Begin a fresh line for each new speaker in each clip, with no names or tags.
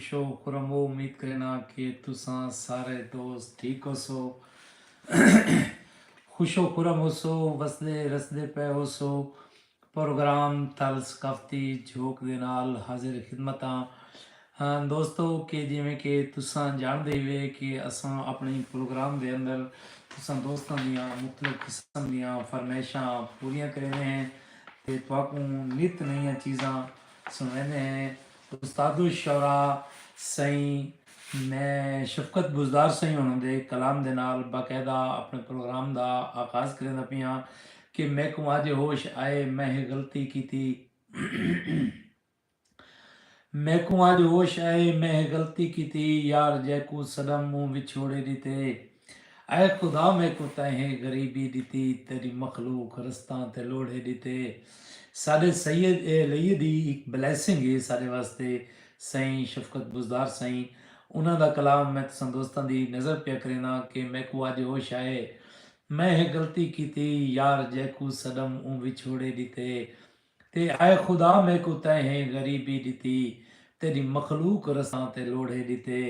Show کرمو امید کرینا کہ تساں سارے دوست ٹھیک ہوسو خوشو خرم ہوسو وسدے رسدے پئے ہوسو پروگرام تھل ثقافتی جھوک دے نال حاضر خدمت ہاں دوستو کہ جیویں کہ تساں جاندے ہوئے کہ اساں اپنی پروگرام دے اندر تساں دوستاں دیاں مختلف قسم دیاں فرمائشاں پوریاں کریندے ہیں تے تواکوں نت نئیاں چیزاں سنویندے ہیں استادالشعراء سئیں میں شفقت بزدار سئیں ہوݨاں دے کلام دے نال باقاعدہ اپݨے پروگرام دا آغاز کریندا پیاں کہ میکوں اڄ ہوش آئے میں ہے غلطی کیتی میکوں اڄ ہوش آئے میں ہے غلطی کیتی یار جیکوں صدم مونہہ وچھوڑے ݙتے۔ اے خدا میکوں تئیں غریبی ݙتی تیݙی مخلوق رستاں تے لوڑھے ݙتے ساݙے سید اے لئیے دی ہک بلیسنگ ہے ساݙے واسطے سئیں شفقت بزدار سئیں انہاں دا کلام میں تساں دوستاں دی نظر پیا کرینداں کہ میکوں اڄ ہوش آئے میں ہے غلطی کیتی یار جیکوں سݙم اوں وچھوڑے ݙتے تے ہائے خدا میکوں تیں ہیں غریبی ݙتی تیݙی مخلوق رساں تے لوڑھے ݙتے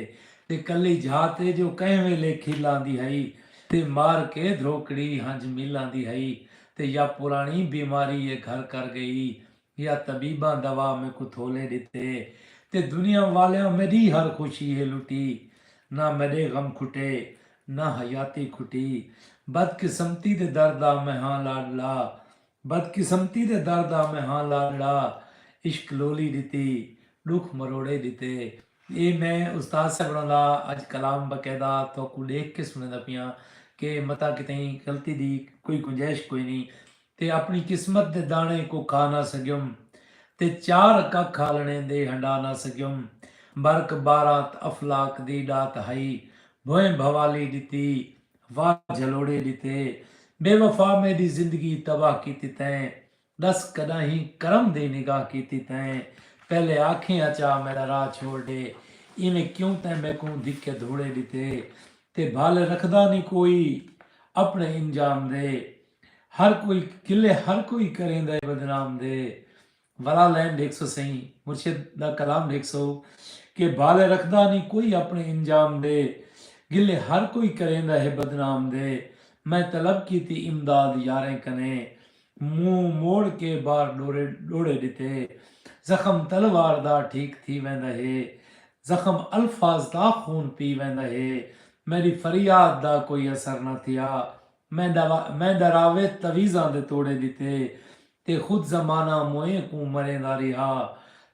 تے کلی جھا تے جو کہیں ویلے کھل آندی ہئی تے مار کے دھروکڑی ہنج مل آندی ہئی تے یا پراݨی بیماری اے گھر کر ڳئی یا طبیباں دوا میکوں تھولے ݙتے تے دنیا والیاں میݙی ہر خوشی ہے لٹی نہ میݙے غم کھٹے نہ حیاتی کھٹی بدقسمتی دے در دا میں ہاں لاݙلا بدقسمتی دے در دا میں ہاں لاݙڑا عشق لولی ݙتی ݙکھ مروڑے ݙتے اے میں استاد صاحب ݨا لا اڄ کلام باقاعدہ تہاکوں ݙیکھ کے سݨیندا پیاں کہ متاں کتئیں غلطی دی کوئی گنجائش کوئنی تے اپݨی قسمت دے داݨے کوں کھا نہ سڳیم تے چار ککھ آلݨے دے ہنڈا نہ سڳیم برک بارات افلاک دی ݙات ہئی بھوئیں بھوالی ݙتی واہ جھلوڑے ڈتے بے وفا میڈی زندگی تباہ کیتی تیں ڈس کڈاہیں کرم دی نگاہ کیتی تیں پہلے آکھیں اچا میڈا راہ چھوڑ ڈے ایویں کیوں تیں میکوں دھکے دھوڑے ڈتے تے بھال رکھدا نی کوئی اپنے انجام دے ہر کوئی گلے ہر کوئی کریندے بدنام دے ولا لین ڈیکھ سو سئیں مرشد دا کلام ڈیکھ سو کہ بال رکھدا نی کوئی اپنے انجام دے گلے ہر کوئی کریندا ہے بدنام دے میں طلب کیتی امداد یاریں کنے منہ موڑ کے بار ڈورے ڈوڑے ڈتے زخم تلوار دا ٹھیک تھی ویندا ہے زخم الفاظ دا خون پی ویندا ہے میڈی فریاد دا کوئی اثر نہ تھیا میندا راوت تویزاں دے توڑے ݙتے تے خود زمانہ موئیں کوں مریندا ریہا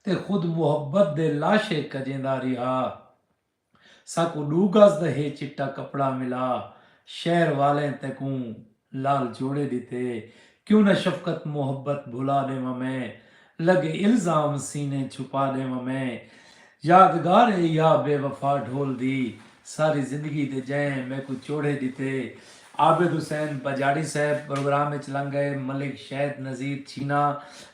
تے خود محبت دے لاشے کجیندا ریہا۔ ساکوں ݙو گز دا ہے چٹا کپڑا ملا۔ شہر والیں تیکوں لال جوڑے ݙتے۔ کیوں نہ شفقت محبت بھلا ݙیواں میں لڳے الزام سینے چھپا ݙیواں میں یادگار اے یا بے وفا ڈھول دی ساری زندگی دے جئیں میکوں چوڑھے ݙتے عابد حسین بجاڑی صاحب پروگرام اچ لنگ گئے ملک شید نذیر چھینا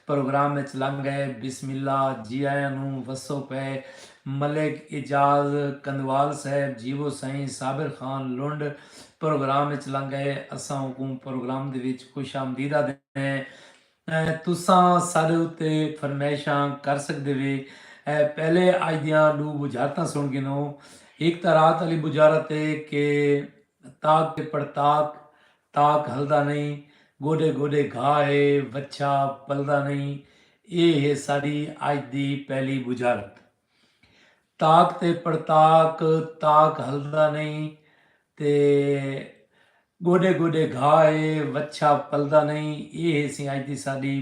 پروگرام اچ لنگ گئے بسم اللہ جی آیاں نوں وسو پئے ملک اعجاز کندھوال صاحب جیوو سائیں صابر خان لنڈ پروگرام اچ لنگ ائے اساں اوکوں پروگرام دے وچ خوش آمدید آدھدے ہیں تساں ساڈے اتے فرمائشاں کر سگدے وے پہلے اج دیاں ڈو بجھارتاں سن گھنو ہک تاں رات آلی بجھارت اے کہ تاک تے پڑتاک تاک ہلدا نئیں گوڈے گوڈے گھا ہے وچھا پلدا نئیں اے ہے ساڈی اج دی پہلی بجھارت تاک تے پڑتاک تاک ہلدا نئیں تے گوڈے گوڈے گھا ہے وچھا پلدا نئیں اے ہے سی اج دی ساڈی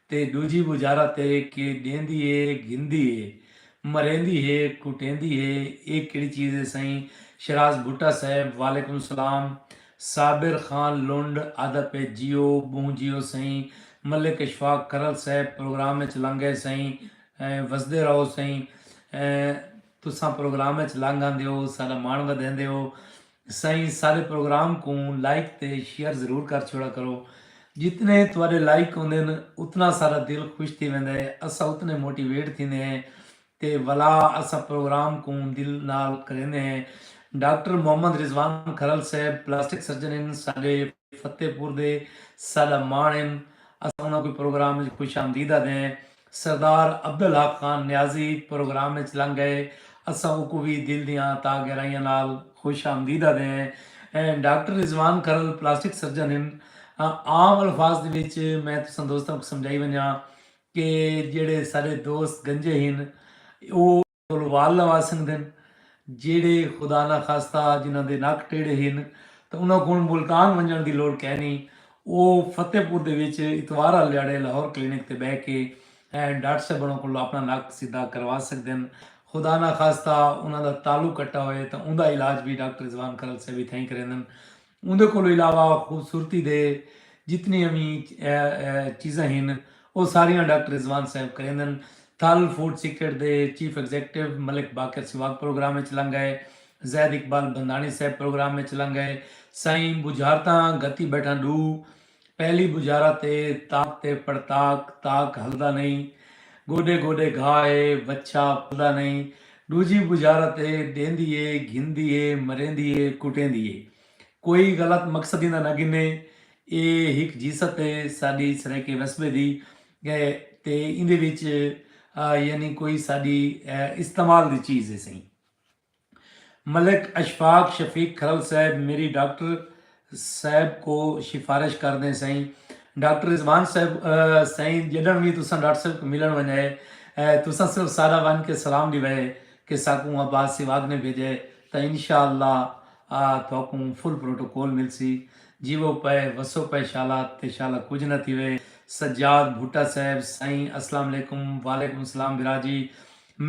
تے ݙوجھی وزارت ہے کہ ݙیندی ہے گھندی ہے مریندی ہے کٹیندی ہے اے کیڑی چیز ہے سئیں شہراز بھٹہ صاحب وعلیکم السلام صابر خان لنڈ آہدا پئے جیو ٻہوں جیو سئیں ملک اشفاق کرل صاحب پروگرام اچ لنگ گئے سئیں وسدے رہو سئیں تساں پروگرام اچ لنگ آندے ہو ساݙا ماݨ ودھیندے ہو سائیں سارے پروگرام کوں لائک تے شیئر ضرور کر چھوڑا کرو جتنے تواڈے لائک ہوندن اتنا سارا دل خوش تھی ویندا ہے اسا اتنے موٹیویٹ تھیندے ہیں تے ولا اسا پروگرام کوں دل نال کریندے ہیں ڈاکٹر محمد رضوان کھرل صاحب پلاسٹک سرجن ہیں ساڈے فتح پور دے ساڈا ماݨ ہن اساں انہاں کوں پروگرام اچ خوش آمدید آدھیں سردار عبدالحق خان نیازی پروگرام اچ لنگ گئے اساں اوکوں وی دل دیاں تاہ گہرائیاں نال خوش آمدید آدھیں doctor Rizwan Kharal plastic surgeon ہن عام الفاظ دے وچ میں تساں دوستاں کوں سمجھائی ونجاں کہ جیڑھے ساڈے دوست گنجے ہن او کولوں وال لوا سنگدن جیڑھے خدا نا خاستہ جنہاں دے نک ٹیڑھے ہن تاں انہاں کول ملتان ونجنڑ دی لوڑ کینی او فتح پور دے وچ اتوار آلے ڈھاڑے لاہور کلینک تے بہہ کے ڈاکٹر صاحب انہاں کولوں اپنا نک سدھا کروا سگدن خدا نا خاستہ انہاں دا تعلق کٹا ہوئے تاں اوندا علاج وی ڈاکٹر رضوان کرل صاحب اتھائیں کریندن۔ اوندے کولوں علاوہ خوبصورتی دے جتنیاں وی چیزاں ہن او ساریاں ڈاکٹر رضوان صاحب کریندن۔ تھل فوڈ سیکرٹ دے چیف ایگزیکٹو ملک باقر سواگ پروگرام اچ لنگ ائے۔ زید اقبال بندھاݨی صاحب پروگرام اچ لنگ ائے۔ سائیں بجھارتاں گھتی بیٹھاں ݙو۔ پہلی بجارہ تے تاک تے پڑتاک تاک ہلدا نئیں گوڈے گوڈے گھا اے وچھا پلدا نئیں ڈوجھی بجارہ تے ڈیندی اے گھندی اے مریندی اے کٹیندی اے کوئی غلط مقصد ایندا نہ گھنے اے ہک جیست اے ساڈی سرائیکے وسبے دی تے ایندے وچ یعنی کوئی ساڈی استعمال دی چیز اے سئیں۔ ملک اشفاق شفیق کھرل صاحب میری ڈاکٹر صاحب کو شفارش کر دیں سائیں ڈاکٹر رضوان صاحب سائیں جڈن وی تساں ڈاکٹر صاحب کو ملن ونجے تساں صرف سادہ ون کے سلام ڈیوے کہ ساکوں عباس سیواگ نے بھیجے تاں انشاءاللہ تھاکوں فل پروٹوکول ملسی جیوو پے وسو پے شالا تے شالا کجھ نہ تھیوے سجاد بھٹہ صاحب سائیں اسلام علیکم وعلیکم سلام بھرا جی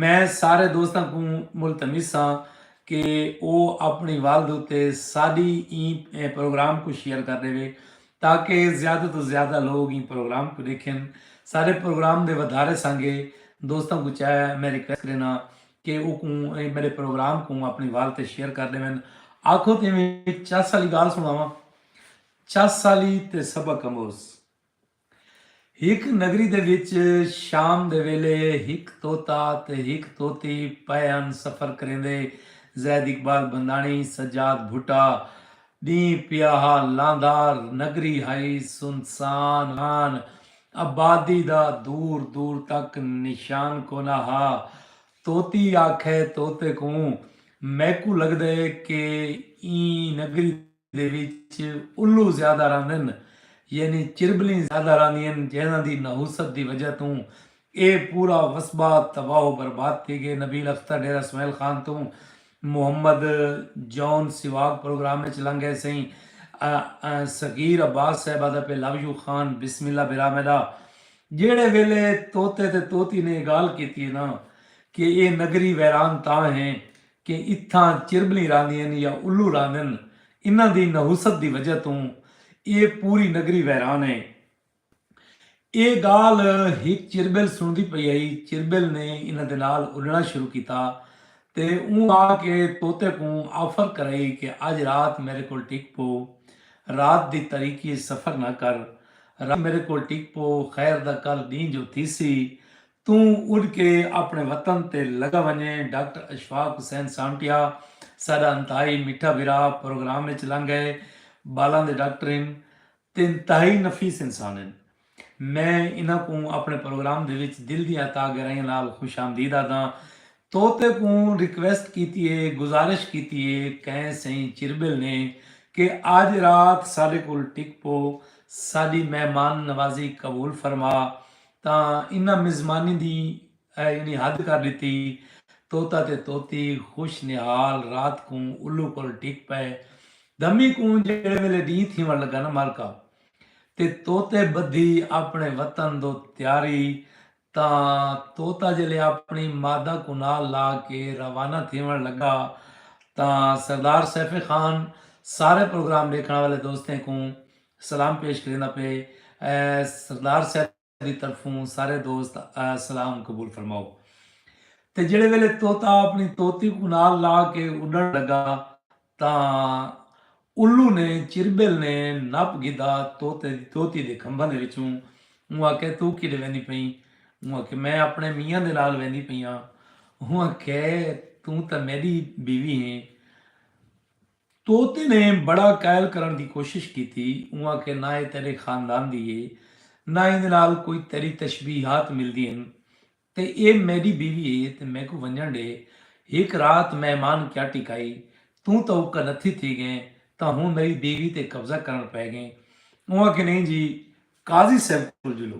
میں سارے دوستاں کوں ملتمس ہاں کہ او اپݨی والد اتے ساݙی ایں پروگرام کوں شیئر کر ݙیوے تاکہ زیادہ توں زیادہ لوگ ایں پروگرام کوں ݙیکھن۔ ساݙے پروگرام دے ودھارے سانگے دوستاں کوں چاہے میں ریکویسٹ کرینداں کہ او کوں میݙے پروگرام کوں اپݨی والد تے شیئر کر ݙیون۔ آکھو تیویں چس آلی ڳالھ سݨاواں؟ چس آلی تے سبق آموز ہک نگری دے وچ شام دے ویلے ہک طوطا تے ہک طوطی پئے ہن سفر کریندے زید اقبال بنداݨی سجاد بھٹہ ݙینہہ پیا ہا لاندار نگری ہئی سنسان ہان آبادی دا دور دور تک نشان کونا ہا طوطی آکھے طوطے کوں میکوں لڳدے کہ ایں نگری دے وچ الو زیادہ رہندن یعنی چربلیں زیادہ رہندین جنہاں دی نحوست دی وجہ توں اے پورا وسبا تباہ و برباد تھی گئے نبیل اختر ڈیرہ اسماعیل خان توں محمد جون سیواگ پروگرام اچ لنگ گئے سئیں صغیر عباس صاحب آدھا پئے لو یو خان بسم اللہ بھرا میڈا جیڑھے ویلے طوطے تے طوطی نے اے گالھ کیتی اے نا کہ اے نگری ویران تاں ہے کہ اتھاں چربلیں راہندین یا الو راہندن انہاں دی نحوست دی وجہ توں اے پوری نگری ویران اے۔ اے گالھ ہک چربل سݨدی پئی ہئی چربل نے انہاں دے نال اݙݨا شروع کیتا تے اوں آ کے طوطے کوں آفر کرائی کہ اڄ رات میݙے کول ٹک پو رات دی تاریکی اچ سفر نہ کر رات میݙے کول ٹک پو خیر دا کل ݙینہہ جو تھیسی توں اڈ کے اپنڑے وطن تے لگا ونجیں ڈاکٹر اشفاق حسین سانٹیا ساڈا انتہائی میٹھا بھرا پروگرام اچ لنگ گئے بالاں دے ڈاکٹر ہن تے انتہائی نفیس انسان ہن میں انہاں کوں اپنڑے پروگرام دے وچ دل دیاں عطا گرائیاں نال خوش آمدید آدھاں توتے کوں ریکویسٹ کیتی ہے گزارش کیتی ہے کئیں سئیں چربل نے کہ آج رات ساڈے کول ٹک پو ساڈی مہمان نوازی قبول فرما تاں انہاں مزمانی دی یعنی حد کر ݙتی۔ طوطا تے طوطی خوش نہال رات کوں الو کول ڈھک پئے۔ دھمی کوں جیڑھے ویلے ݙینہہ تھیوݨ لڳا نہ مالکا! تے طوطے ٻدھی آپݨے وطن دو تیاری تاں طوطا جیلے آپݨی مادہ کوں نال لا کے روانہ تھیوݨ لڳا تاں سردار سیف خان سارے پروگرام ݙیکھݨ والے دوستیں کوں سلام پیش کریندا پئے سردار صاحب دی طرفوں سارے دوست سلام قبول فرماؤ تے جڑے ویلے طوطا اپنی طوطی کوں نال لا کے اڈن لگا تاں الو نے چربل نے نپ گھدا طوطے دی طوطی دے کھمباں دے وچوں اوں آکھے تو کیڈے ویندی پئیں اوں آکھے میں اپنے میاں دے نال ویندی پئی ہاں اوں آکھے توں تاں میڈی بیوی ہیں طوطے نے بڑا قائل کرݨ دی کوشش کیتی۔ اوں آکھیا نہ ایہ تیݙے خاندان دی ہے، نہ ایندے نال کوئی تیݙی تشبیہات ملدی ہن، تے ایہ میݙی بیوی ہے تے میکوں ونڄݨ ݙے، ہک رات مہمان کیا ٹکائی، توں تاں اکا نتھی تھی ڳئیں تاں ہݨ میݙی بیوی تے قبضہ کرݨ پئے ڳئیں۔ اوں آکھیا نئیں جی، قاضی صیب کول جلو۔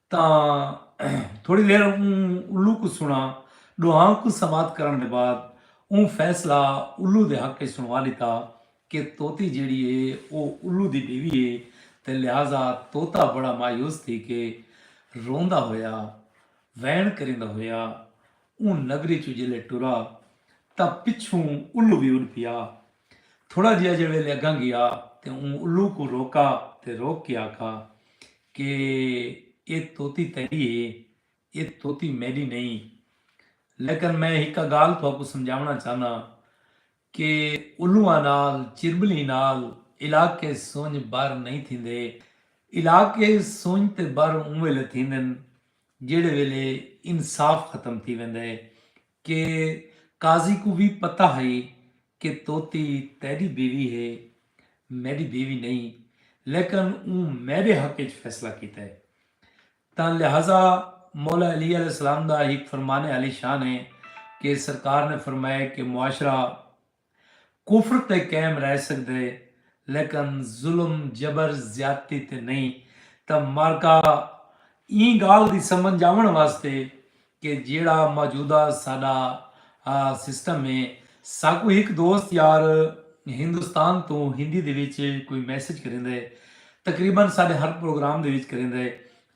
تاں تھوڑی دیر اوں الو کوں سنا ڈوہاں کوں سماعت کرن دے بعد اوں فیصلہ الو دے حق اچ سنوا ڈتا کہ طوطی جیڑی ہے او الو دی بیوی ہے تے لہذا طوطا بڑا مایوس تھی کے روندا ہویا وین کریندا ہویا اوں نگری چوں جلے ٹرا تاں پچھوں الو وی اڈ پیا تھوڑا جیہا جے ویلے اگاں گیا تے اوں الو کوں روکا تے روک کے آکھا کہ اے طوطی تیڈی ہے اے طوطی میڈی نئیں لیکن میں ہکا گالھ تہاکوں سمجھاونا چاہناں کہ الواں نال چربلیں نال علاقے سنج بر نئیں تھیندے علاقے سنج تے بر اوں ویلے تھیندن جیہڑے ویلے انصاف ختم تھی ویندے کہ قاضی کوں وی پتہ ہئی کہ طوطی تیݙی بیوی ہے، میݙی بیوی نئیں، لیکن اوں میݙے حق اچ فیصلہ کیتا ہے، تاں لہذا مولا علی علیہ السلام دا ہک فرمان عالی شان ہے کہ سرکار نے فرمایا کہ معاشرہ۔ کفر تے قائم رہ سگدے لیکن ظلم جبر زیادتی تے نئیں تاں معرکہ ایں گالھ دی سمنجھ آوݨ واسطے کہ جیڑھا موجودہ ساݙا سسٹم ہے ساکوں ہک دوست یار ہندوستان توں ہندی دے وچ کوئی میسج کریندے تقریبا ساݙے ہر پروگرام دے وچ کریندے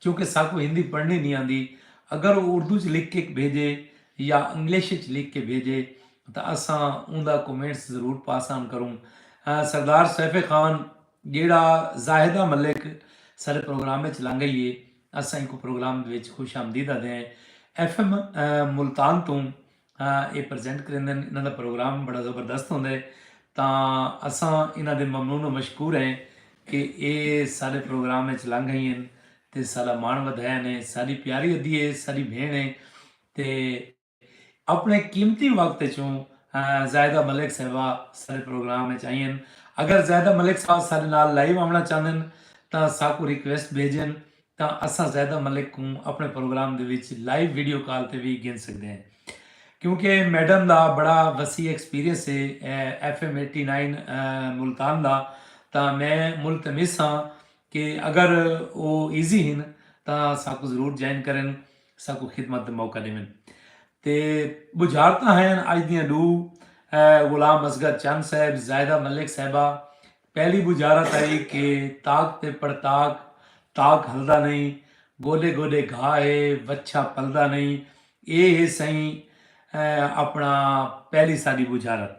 چونکہ ساکوں ہندی پڑھݨی نئیں آندی اگر او اردو چ لکھ کے بھیجے یا انگلش چ لکھ کے بھیجے تاں اساں اوندا کومنٹس ضرور پاس آن کروں سردار سیف خان جیڑا زاہدہ ملک سارے پروگرام وچ لنگ گئی ہے اساں کو پروگرام دے وچ خوش آمدید آدھے ہیں ایف ایم ملتان تو اے پریزنٹ کریندے ہیں انہاں دا پروگرام بڑا زبردست ہوندا ہے تاں اساں انہاں دے ممنون و مشکور ہیں کہ اے سارے پروگرام وچ لنگ گئی ہیں تے سارا مان ودھایا نے ساری پیاری ادھی ہے ساری بھین ہے تے اپݨے قیمتی وقت اچوں زاہدہ ملک صاحبہ ساݙے پروگرام اچ آئین اگر زاہدہ ملک صاحبہ ساݙے نال لائیو آوݨا چاہندن تاں ساکوں ریکویسٹ بھیجن تاں اساں زاہدہ ملک کوں اپݨے پروگرام دے وچ لائیو ویڈیو کال تے وی گھن سڳدے ہیں کیونکہ میڈم دا بڑا وسیع ایکسپیرینس ہے F M eighty nine Multan دا تاں میں ملتمس ہاں کہ اگر او ایزی ہن تاں ساکوں ضرور جوائن کرن ساکوں خدمت دا موقع ݙیون تے ٻجھارتاں ہین اج دیاں ݙو غلام اصغر چن صاحب زاہدہ ملک صاحبہ پہلی ٻجھارت آئی کہ تاک تے پڑتاک تاک ہلدا نہیں گوڈے گوڈے گھا ہے وچھا پلدا نہیں اے ہے سئیں اپنا پہلی ساݙی ٻجھارت۔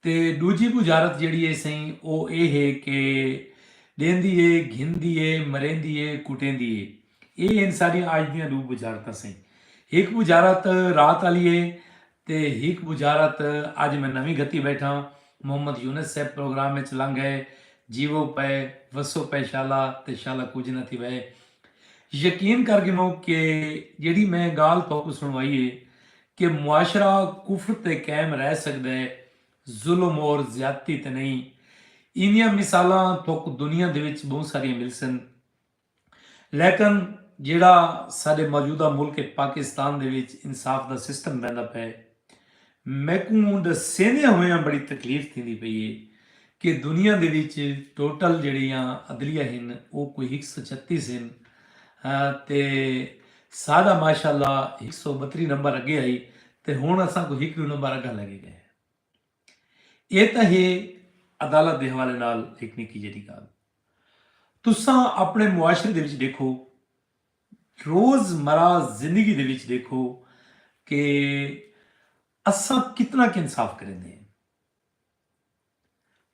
تے ݙوجھی بجارت جیڑھی اے سئیں او اے ہے کہ ݙیندی اے، گھندی اے، مریندی اے، کٹیندی اے۔ اے ہن ساݙیاں اڄ دیاں ݙو بجارتاں سئیں۔ ہک بجارت رات آلی اے تے ہک بجارت اڄ میں نویں گھتی ٻیٹھاں، محمد یونس صاحب پروگرام اچ لنگھ ڳئے، جیوو پئے، وسو پئے شالا تے شالا کجھ نہ تھیوے۔ یقین کر گھنو کہ جیڑھی میں ڳالھ تہاکوں سݨوائی اے، کہ معاشرہ کفر تے قائم رہ سگدے ظلم اور زیادتی تے نئیں ایندیاں مثالاں تھوک دنیا دے وچ بہوں ساریاں ملسن لیکن جیڑھا ساڈے موجودہ ملک پاکستان دے وچ انصاف دا سسٹم ویندا پئے میکوں ڈسیندیاں ہویاں بڑی تکلیف تھیندی پئی اے کہ دنیا دے وچ ٹوٹل جیڑھیاں عدلیہ ہن او کوئی ہک سو چھتیس ہن تے ساڈا ماشاءاللہ ہک سو بتری نمبر اگے ہئی تے ہن اساں کوں ہک ڈو نمبر اگاں لگے گئے ہیں اے تاں ہے عدالت دے حوالے نال ہک نکی جیڈی گال تساں اپنے معاشرے دے وچ ڈیکھو روز مرہ زندگی دے وچ ڈیکھو کہ اساں کتنا کہ انصاف کریندے ہیں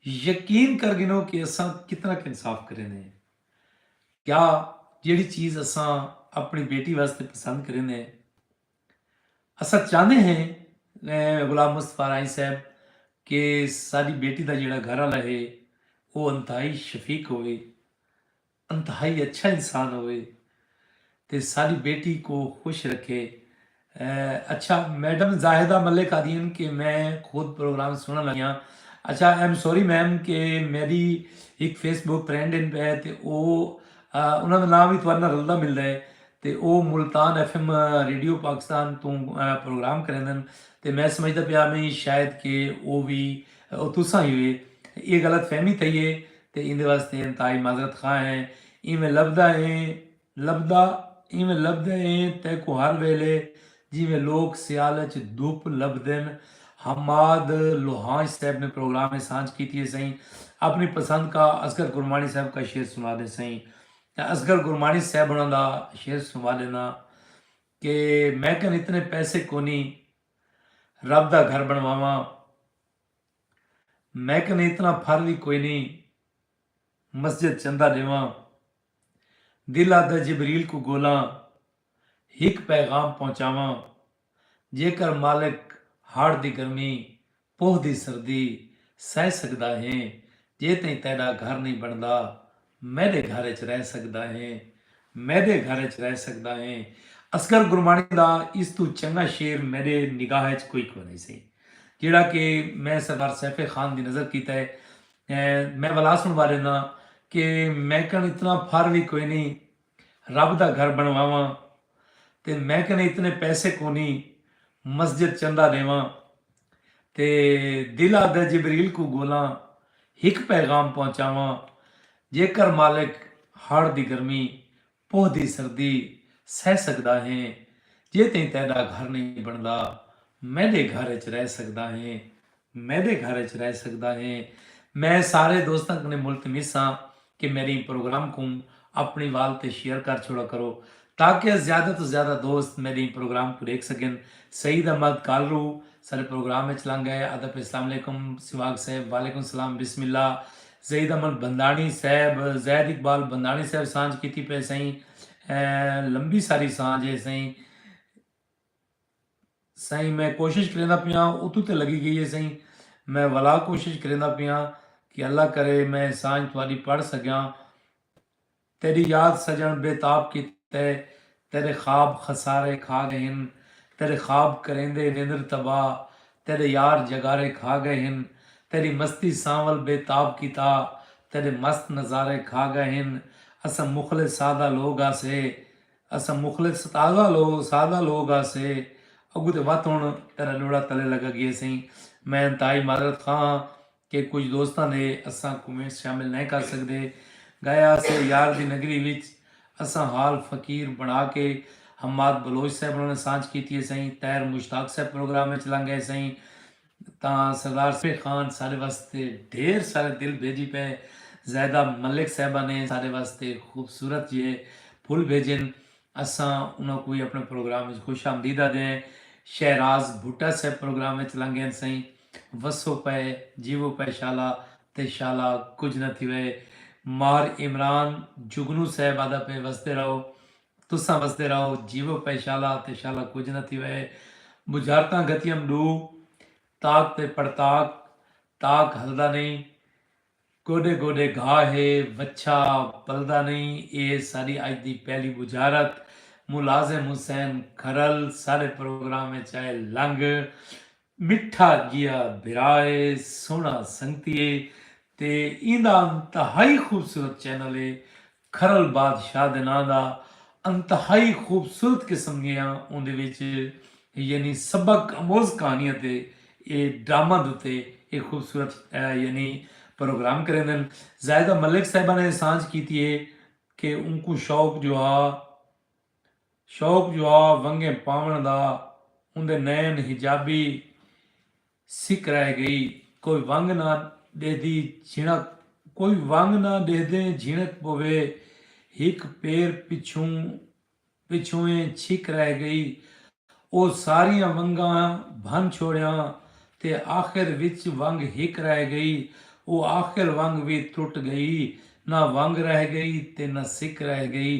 یقین کر گھنو کہ اساں کتنا ک انصاف کریندے ہیں۔ کیا جیڑھی چیز اساں اپنی بیٹی واسطے پسند کریندے ہیں۔ اساں چاہندے ہیں غلام مصطفی راہی صاحب کہ ساڈی بیٹی دا جیڑھا گھر والا ہے او انتہائی شفیق ہووے۔ انتہائی اچھا انسان ہووے تے ساڈی بیٹی کوں خوش رکھے۔ اچھا میڈم زاہدہ ملک آدھین کہ میں خود پروگرام سنڑن لگی ہاں۔ اچھا آئی ایم سوری میم کہ میڈی ہک فیس بک پرینڈ ہن پے تے او انہاں دا ناں وی تہاڈے نال رلدا ملدا ہے تے او Multan F M radio Pakistan توں پروگرام کریندن تے میں سمجھدا پیا میں شاید کہ او وی تساں ہی ہوے اے غلط فہمی تھئی ہے تے ایندے واسطے انتہائی معذرت خواہ ہیں۔ ایویں لبھدا اے لبھدا ایویں لبھدا اے تیکوں ہر ویلھے جیویں لوک سیال اچ دھپ لبھدن حماد لوہانچ صیب نے پروگرام اچ سانجھ کیتی اے سئیں اپنی پسند کا اصغر کرمانی صیب کا شعر سنوا دے سئیں تاں اصغر کرمانی صیب ہونا دا شعر سنوا دینا کہ میکن اتنے پیسے کونی رب دا گھر بنواواں۔ میں کن اتنا پھر وی کوئی نئیں مسجد چندہ ڈیواں دل آدھا جبریل کوں گولاں ہک پیغام پہنچاواں جیکر مالک ہاڑ دی گرمی پوہ دی سردی سہہ سگدا ہیں جے تئیں تیڈا گھر نئیں بندا میݙے گھر اچ رہ سڳدا ہیں میݙے گھر اچ رہ سڳدا ہیں اصغر گرماݨی دا اس توں چنڳا شعر میݙے نگاہ اچ کوئی کونہی سی جیڑھا کہ میں سردار سیف خان دی نظر کیتا ہے میں ولا سݨوا ݙینداں کہ میکݨ اتنا پھر وی کوئی نی رب دا گھر بنڑواواں تے میں کنے اتنے پیسے کونی مسجد چندہ ڈیواں تے دل آدھے جبریل کوں گولاں ہک پیغام پہنچاواں جیکر مالک ہاڑ دی گرمی پوہ دی سردی سہہ سگدا ہیں جے تئیں تیڈا گھر نئیں بنڑدا میڈے گھر اچ رہ سگدا ہیں میڈے گھر اچ رہ سگدا ہے۔ میں سارے دوستاں کنے ملتمس ہاں کہ میڈے ایں پروگرام کوں اپنی وال تے شیئر کر چھوڑا کرو تاکہ زیادہ توں زیادہ دوست میڈے ایں پروگرام کوں ڈیکھ سگن۔ سعید احمد کالرو ساڈے پروگرام اچ لنگ گئے ادب اسلام علیکم سواگ صاحب وعلیکم السلام بسم اللہ زید احمد بھنداݨی صاحب زید اقبال بھنداݨی صاحب سانجھ کیتی پئے سئیں لمبی ساری سانجھ ہے سئیں۔ سائیں میں کوشش کریندا پیاں اتو تے لگی گئی ہے سائیں میں ولا کوشش کریندا پیاں کہ اللہ کرے میں سانجھ تہاڈی پڑھ سگیاں تیڈی یاد سجن بے تاب کیتے تیڈے خواب خسارے کھا گئے ہن تیڈے خواب کریندے نیندر تباہ تیڈے یار جگارے کھا گئے ہن تیڈی مستی سانول بے تاب کیتا تیڈے مست نظارے کھا گئے ہن اساں مخلص سادہ لوگ ہاسے اساں مخلص تازہ لوگ سادہ لوگ ہاسے اگوں تے وت ہن تیرا لوڑا تلے لگا گئے سئیں میں انتہائی معذرت خواہ ہاں کہ کچھ دوستاں دے اساں کومنٹس شامل نئیں کر سگدے گئے ہاسے یار دی نگری وچ اساں حال فقیر بنا کے حماد بلوچ صاحب ہونا نے سانجھ کیتی ہے سئیں طاہر مشتاق صاحب پروگرام وچ لنگ گئے سئیں تاں سردار سیف علی خان ساڈے واسطے ڈھیر سارے دل بھیجی پئے زاہدہ ملک صاحبہ نے ساڈے واسطے خوبصورت جیہے پھل بھیجن اساں انہاں کوں وی اپنے پروگرام وچ خوش آمدید آدھے ہیں شہراز بھٹہ صاحب پروگرام وچ لنگھین سئیں وسو پئے جیوو پئے شالا تے شالا کجھ نہ تھیوئے ماہر عمران جگنو صاحب آدھا پئے وسدے رہو تساں وسدے رہو جیوو پئے شالا تے شالا کجھ نہ تھیوئے بجھارتاں گھتیم ڈو تاک تے پڑتاک تاک ہلدا نئیں گوڈے گوڈے گھا ہے وچھا بلدا نئیں اے ساڈی اج دی پہلی بجھارت ملازم حسین کھرل ساڈے پروگرام اچ آئے لنگ مٹھا جیہا بھرا اے سوہنا سنگتی اے تے ایندا انتہائی خوبصورت چینل اے کھرل بادشاہ دے ناں دا انتہائی خوبصورت قسم گیاں اوندے وچ یعنی سبق اموز کہانیاں تے اے ڈرامہ دتے اے خوبصورت یعنی پروگرام کریندن زاہدہ ملک صاحبہ نے سانجھ کیتی اے کہ اونکوں شوق جو ہا شوق جو ہا ونگیں پاون دا اوندے نین حجابی سی کرائے گئی۔ کوئی ونگ نہ ڈیہدی جھنک کوئی ونگ نہ ڈیہدیں جھنک پوے ہک پیر پچھوں پچھوئیں چھک رہ گئی۔ او ساریاں ونگاں بھن چھوڑیاں تے آخر وچ ونگ ہک رہ گئی۔ او آخر ونگ وی ترٹ گئی۔ نہ ونگ رہ گئی تے نہ سک رہ گئی۔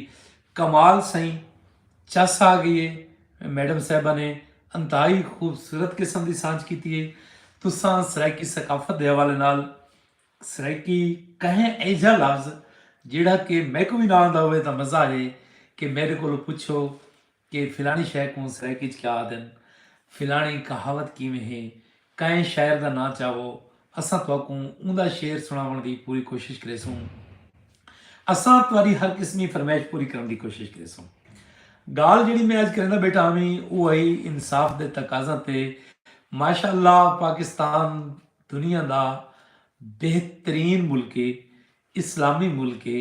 کمال سئیں چس آ گئی ہے میڈم صاحبہ نے انتہائی خوبصورت قسم دی سانچ کیتی ہے تساں سرائیکی ثقافت دے حوالے نال سرائیکی کہیں ایجھا لفظ جیڑھا کہ میکو بھی نہ آندا ہوئے تاں مزہ آ جائے کہ میڈے کولو پچھو کہ فلانی شے کوں سرائیکی چ کیا آدن فلانی کہاوت کیویں ہے کہیں شاعر دا ناں چاہو اساں تہاکوں اوندا شعر سنڑاونڑ دی پوری کوشش کریسوں۔ اساں تہاڈی ہر قسمی فرمائش پوری کرنڑ دی کوشش کریسوں۔ گالھ جیہڑی میں اج کریندا بیٹھا ہاویں او ہئی انصاف دے تقاضاں تے ماشاء اللہ پاکستان دنیا دا بہترین ملک اے اسلامی ملک اے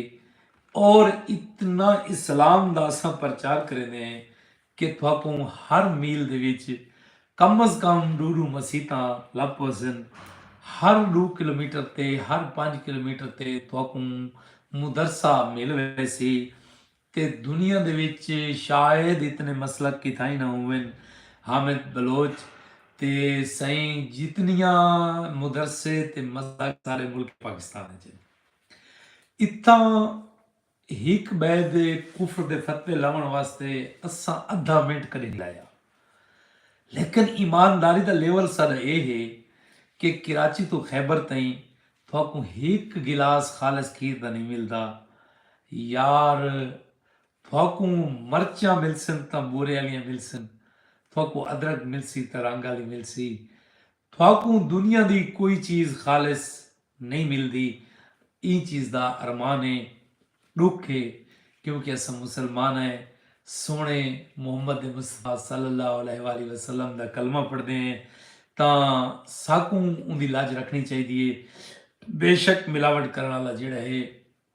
اور اتنا اسلام دا اساں پرچار کریندے ہیں کہ تہاکوں ہر میل دے وچ کم از کم ݙو ݙو مسیتاں لبھ پوسن، ہر ݙو کلومیٹر تے ہر پنج کلومیٹر تے تہاکوں مدرسہ مل ویسی تے دنیا دے وچ شاید اتنے مسلک کتھائیں نہ ہوون حامد بلوچ تے سئیں جتنیاں مدرسے تے مسلک سارے ملک پاکستان وچ ہن اتھاں ہک بئے دے کفر دے فتوے لوݨ واسطے اساں ادھا منٹ کڈھے نی لایا لیکن ایمانداری دا لیول ساڈا اے ہے کہ کراچی توں خیبر تئیں تھاکوں ہک گلاس خالص کھیر دا نی ملدا یار تھاکوں مرچاں ملسن تاں بورے آلیاں ملسن تھاکوں ادرک ملسی تاں رنگ آلی ملسی تھاکوں دنیا دی کوئی چیز خالص نئیں ملدی، ایں چیز دا ارمان ہے، ݙکھ ہے، کیونکہ اساں مسلمان ہیں، سوہݨے محمد مصطفی صلی اللہ علیہ وآلہ وسلم دا کلمہ پڑھدے ہیں تاں ساکوں اوندی لاج رکھݨی چاہیدی ہے، بیشک ملاوٹ کرݨ آلا جیڑھا ہے،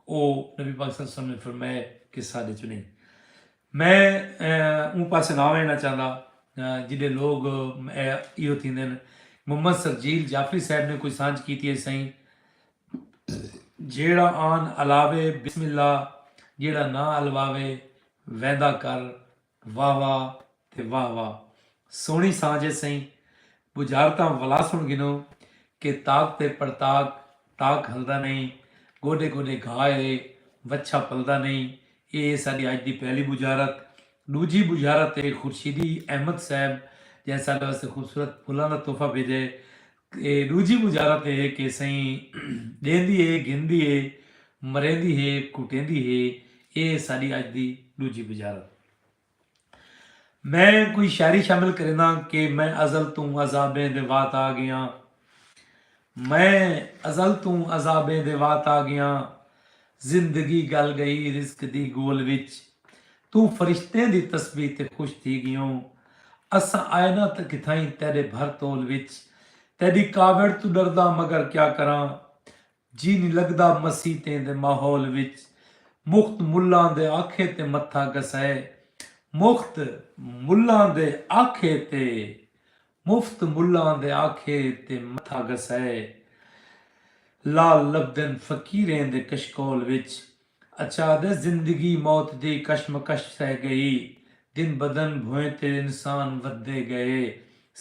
او نبی پاک صلی اللہ علیہ وسلم نے فرمائے کہ ساڈے چوں نہیں۔ میں اوں پاسے نہ وینا چاہندا جڈے لوگ ایہو تھیندن۔ محمد سرجیل جعفری صاحب نے کوئی سانجھ کیتی ہے سئیں جیڑھا آن الاوے بسم اللہ جیڑھا نہ الواوے ویندا کر واہ واہ تے واہ واہ سوہنڑی سانجھ ہے سئیں بجھارتاں ولا سن گھنو کہ طاق تے پڑطاق طاق ہلدا نئیں گوڈے گوڈے گھا ہے وچھا پلدا نئیں اے ہے ساڈی اج دی پہلی بجھارت ڈوجھی بجھارت ہے خورشیدی احمد صاحب جئیں ساڈے واسطے خوبصورت پھلاں دا تحفہ بھیجا ہے تے ݙوجھی مجارت اے ہے کہ سئیں ݙیندی ہے، گھندی ہے، مریندی ہے، کٹیندی ہے، اے ہے ساݙی اڄ دی ݙوجھی مجارت۔ میں کوئی شاعری شامل کرینداں کہ میں ازل توں عذابیں دے وات آ ڳیاں۔ میں ازل توں عذابیں دے وات آ ڳیاں۔ زندگی گل گئی رزق دی گول وچ توں فرشتیں دی تسبیح تے خوش تھی گیوں اساں آئے نہ تاں کتھائیں تیڈے بھر تول وچ تیڈی کاوڑ توں ڈرداں مگر کیا کراں جی نی لگدا مسیتیں دے ماحول وچ مخت ملاں دے آکھے تے متھا گھسائے مخت ملاں دے آکھے تے مفت ملاں دے آکھے تے متھا گھسائے۔ لال لبھدن فقیریں دے کشکول وچ۔ اچا دے زندگی موت دی کشمکش سہہ گئی۔ دن بدن بھوئیں تے انسان ودھدے گئے۔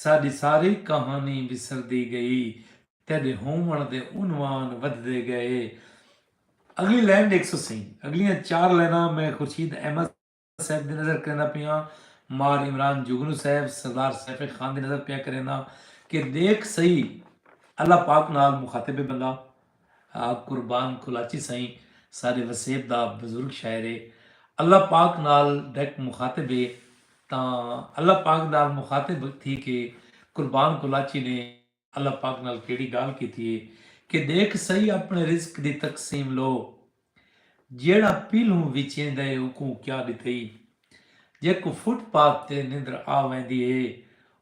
ساݙی ساری کہانی وسردی گئی۔ تیݙے ہووݨ دے عنوان ودھدے گئے۔ اڳلی لائن ݙیکھسو سئیں۔ اڳلیاں چار لائناں میں خورشید احمد۔ صاحب دی نظر کریندا پیاں مار عمران جگنو صاحب سردار سیف خان دی نظر پیا کرینداں کہ دیکھ سئی اللہ پاک نال مخاطب اے بندہ قربان کلاچی سائیں سارے وسیب دا بزرگ شاعر اے اللہ پاک نال ڈائریکٹ مخاطب اے تاں اللہ پاک نال مخاطب تھی کے قربان کلاچی نے اللہ پاک نال کیڑی گالھ کیتی ہے کہ ڈیکھ سہی اپنے رزق دی تقسیم لو جیڑھا پیلھوں وچیندا ہے اوکوں کیا ڈتئی جیکوں فٹ پاتھ تے نندر آ ویندی ہے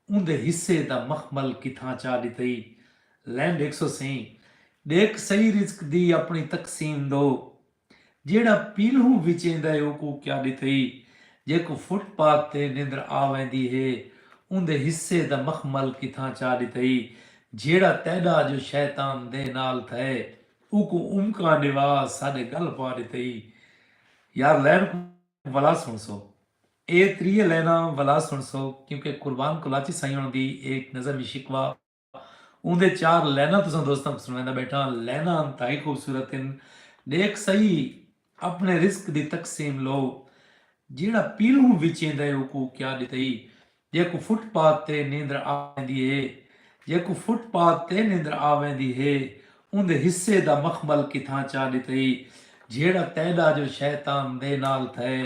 اوندے حصے دا مخمل کتھاں چا ڈتئی لین ڈیکھسو سہی ڈیکھ سہی رزق دی اپنی تقسیم لو۔ جیہڑا پیلہوں وچیندا ہے اوکوں کیا ڈتھئی جیکوں فٹ پاتھ تے نندر آ ویندی ہے اوندے حصے دا مخمل کتھاں چا ڈتھئی جیہڑا تیڈا جو شیطان دے نال تھئے اوکوں امکاں ڈیوا ساڈے گل پا ڈتھئی یار لین کوں ولا سنڑسو اے تریہ لیناں ولا سنڑسو کیونکہ قربان کلاچی سائیوں دی ایک نظم شکوہ اوندے چار لیناں تساں دوستاں کوں سنڑویندا بیٹھاں۔ لیناں انتہائی خوبصورت ہن۔ ڈیکھ سہی اپنے رزق دی تقسیم لو۔ جیہڑا پیلھوں وچیندا ہے اوکوں کیا ڈتئی۔ جیکوں فٹ پاتھ تے نیندر آویندی ہے۔ جیکوں فٹ پاتھ تے نیندر آویندی ہے۔ اوندے حصے دا مخمل کتھاں چا ڈتئی۔ جھیڑا تیڈا جو شیطان دے نال تھئے۔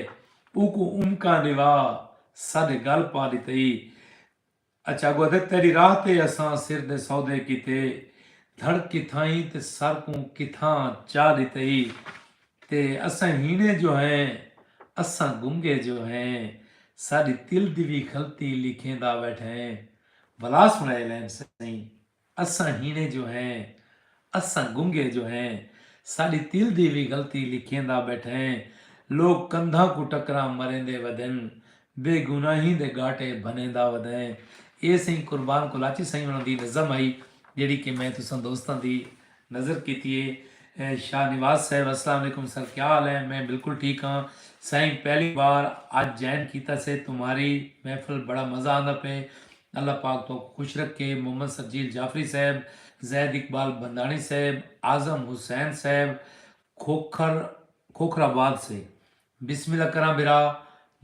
اوکوں امکاں ڈوا ساڈے گل پا ڈتئی۔ اچ اگو ادھے تیڈی راہ تے اساں سر دے سودے کیتے دھڑک کتھائیں تے سر کوں کتھاں چا ڈتے ای تے اساں ہینے جو ہیں اساں گنگے جو ہیں ساڈی تل دی وی غلطی لکھیندا ویٹھیں بھلا سنڑے لیم سئیں اساں ہیݨے جو ہیں اساں گنگے جو ہیں ساݙی تل دی وی غلطی لکھیندا ٻیٹھیں لوک کندھاں کوں ٹکراں مریندے ودن بے گناہیں دے ڳاٹے بھنیندا ودیں ایہ سئیں قربان کولاچی سئیں ہوݨاں دی نظم ہئی جیڑھی کہ میں تساں دوستاں دی نظر کیتی ہے شاہ نواز صاحب السلام علیکم سر کیا حال ہیں میں بالکل ٹھیک ہاں سائیں پہلی بار اج جائن کیتا سے تمہاری محفل بڑا مزہ آندا پئے اللہ پاک تہاکوں خوش رکھے محمد سرجیل جعفری صاحب، زید اقبال بھنداݨی صاحب، اعظم حسین صاحب کھوکھر کھوکھر آباد سے بسم اللہ کراں بھرا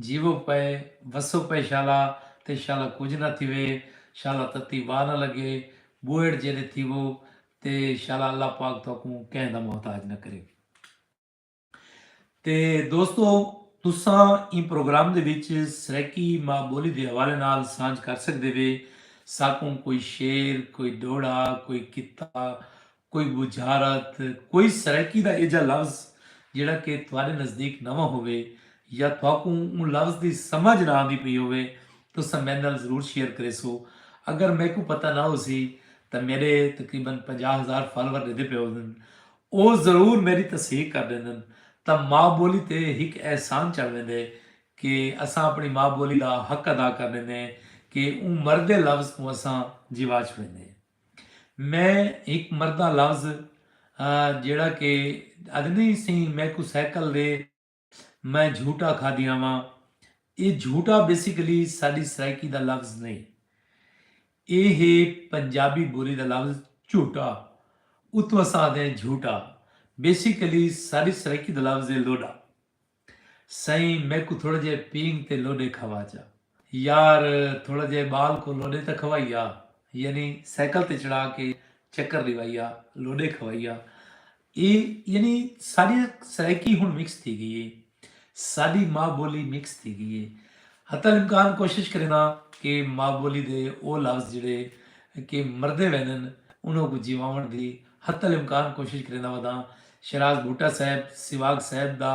جیوو پئے وسو پئے شالا تے شالا کجھ نہ تھیوے شالا تتی واہ نہ لگے ٻوہیڑ جیݙے تھیوو تے شالا اللہ پاک تہاکوں کہیں دا محتاج نہ کرے۔ تے دوستو تساں ایں پروگرام دے وچ سرائیکی ماں بولی دے حوالے نال سانجھ کر سکدے وے ساکوں کوئی شعر کوئی ڈوہڑا کوئی کتا کوئی بجھارت کوئی سرائیکی دا ایجھا لفظ جیڑھا کہ تہاڈے نزدیک نواں ہووے یا تہاکوں اوں لفظ دی سمجھ نہ آندی پئی ہووے تساں میڈے نال ضرور شیئر کریسو اگر میکوں پتہ نہ ہوسی تاں میڈے تقریبا پنجاہ ہزار فالوور ڈیدھے پئے ہوندن او ضرور میݙی تصحیق کر ݙیندن تاں ماء ٻولی تے ہک احسان چڑھ ویندے کہ اساں اپݨی ماء ٻولی دا حق ادا کر ݙیندے کہ اوں مردے لفظ کوں اساں جیوا چھوڑیندے میں ہک مردہ لفظ ہاں جیڑھا کہ اڄ نئیں سئیں میکوں سائیکل دے میں جھوٹا کھادی آواں اے جھوٹا بیسیکلی ساڈی سرائیکی دا لفظ نئیں اے ہے پنجابی بولی دا لفظ چہٹا اتوں اساں آہدے ہیں جھوٹا بیسیکلی ساڈی سرائیکی دا لفظ ہے لوڈا سئیں میکوں تھوڑا جیہا پینگ تے لوڈے کھوا چا۔ یار تھوڑا جئے بال کوں لوڈے تاں کھوائی آ یعنی سائیکل تے چڑھا کے چکر ڈیوائی آ لوڈے کھوائی آ اے یعنی ساڈی نا سرائیکی ہن مکس تھی گئی اے ساڈی ماں بولی مکس تھی گئی اے حتی الامکان کوشش کرینا کہ ماں بولی دے او لفظ جڑے کہ مردے وینن انہاں کو جیواون دی حتی الامکان کوشش کرینا وداں شہراز بھٹہ صاحب سیواگ صاحب دا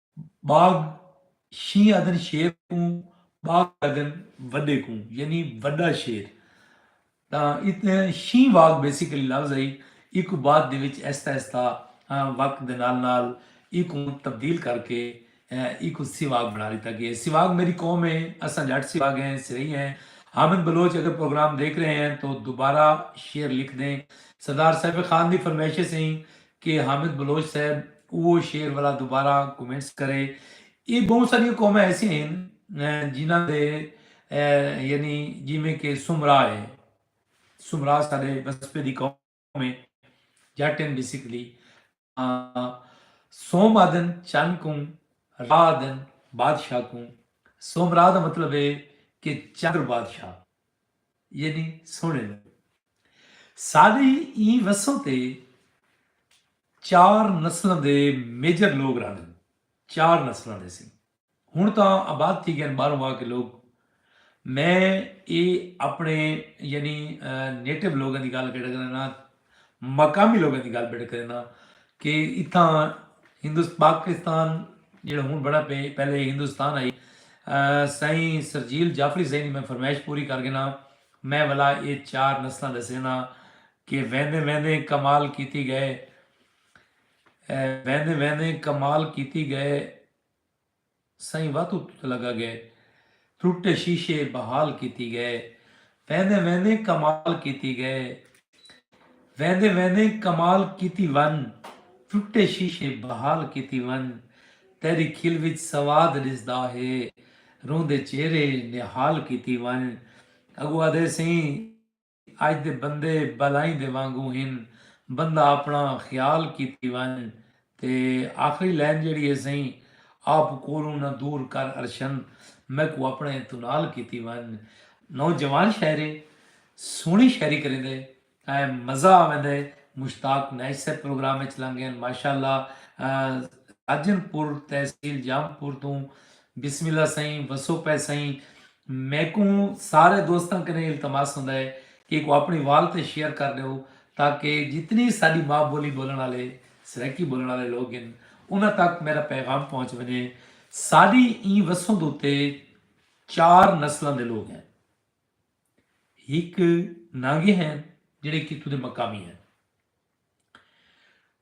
ٻاگھ شینہہ آہدن شیر کوں ٻاگھ آہدن وݙے کوں یعنی وݙا شیر تاں شینہہ واگ بیسیکلی لفظ ہئی ایکوں بعد دے وچ آہستہ آہستہ وقت دے نال نال ایکوں تبدیل کر کے ایکوں سیواگ بنا لیتا گیا ہے سیواگ میری قوم ہے اساں جٹ سیواگ ہیں سرئی ہیں حامد بلوچ اگر پروگرام دیکھ رہے ہیں تو دوبارہ شعر لکھ دیں سردار سیف خان دی فرمائشیں سیں کہ حامد بلوچ صاحب اوہو شعر ولا دوبارہ کومنٹس کرے۔ اے بہوں ساریاں قوماں ایسیاں ہن جنہاں دے یعنی جیویں کہ سومرا ہے۔ سومرا ساڈے وسپے دی قوم ہے۔ جٹ ہن بیسیکلی۔ تاں سوم آدھن چن کوں۔ را آدھن بادشاہ کوں۔ سومرا دا مطلب ہے کہ چندر بادشاہ۔ یعنی سوہݨے لڳے۔ ساݙی ایں وسوں تے چار نسلاں دے میجر لوک رہندن۔ چار نسلاں دے سئیں۔ ہݨ تاں آباد تھی ڳئن ٻاہروں آ کے لوک۔ میں اے اپݨے یعنی نیٹو لوکاں دی ڳالھ کر ݙگݨاں مقامی لوگاں دی گالھ بڑھ کرینداں کہ اتھاں ہندوست پاکستان جیڑا ہن بنڑا پئے پہلے ہندوستان ہئی سائیں سرجیل جعفری سائیں دی میں فرمائش پوری کر گھناں میں ولا اے چار نسلاں ڈسینداں کہ ویندیں ویندیں کمال کیتی گئے ویندیں ویندیں کمال کیتی گئے سئیں واتو تت لگا گئے۔ ٹٹے شیشے بحال کیتی گئے۔ ویندیں ویندیں کمال کیتی گئے۔ ویندیں ویندیں کمال کیتی ون۔ ٹٹے شیشے بحال کیتی ون۔ تیڈی کھل وچ سواد ڈسدا ہے۔ روندے چہرے نہال کیتی ون۔ اگو آدھے سئیں۔ اڄ دے بندے بالائیں دے وانگوں ہن، بندہ اپݨا خیال کیتی ونڄ تے آخری لائن جیڑھی ہے سئیں آپ کولوں نہ دور کر ارشن میکوں اپݨے تونال کیتی ونڄ نوجوان شاعر ہے سوہݨی شاعری کریندے ائیں مزہ آویندے مشتاق نیش صاحب پروگرام اچ لنگ ڳئن ماشاءاللہ ساجن پور تحصیل جام پور توں بسم اللہ سئیں وسو پئے سئیں میکوں سارے دوستاں کنیں التماس ہوندا ہے کہ ایکوں اپنڑی وال تے شیئر کر ڈیو تاکہ جتنی ساڈی ماء بولی بولنڑ آلے سرائیکی بولنڑ آلے لوگ ہن انہاں تک میڈا پیغام پہنچ ونجے ساڈی ایں وسندھ اتے چار نسلاں دے لوگ ہن ہک نانگے ہن جڑے کتھوں دے مقامی ہن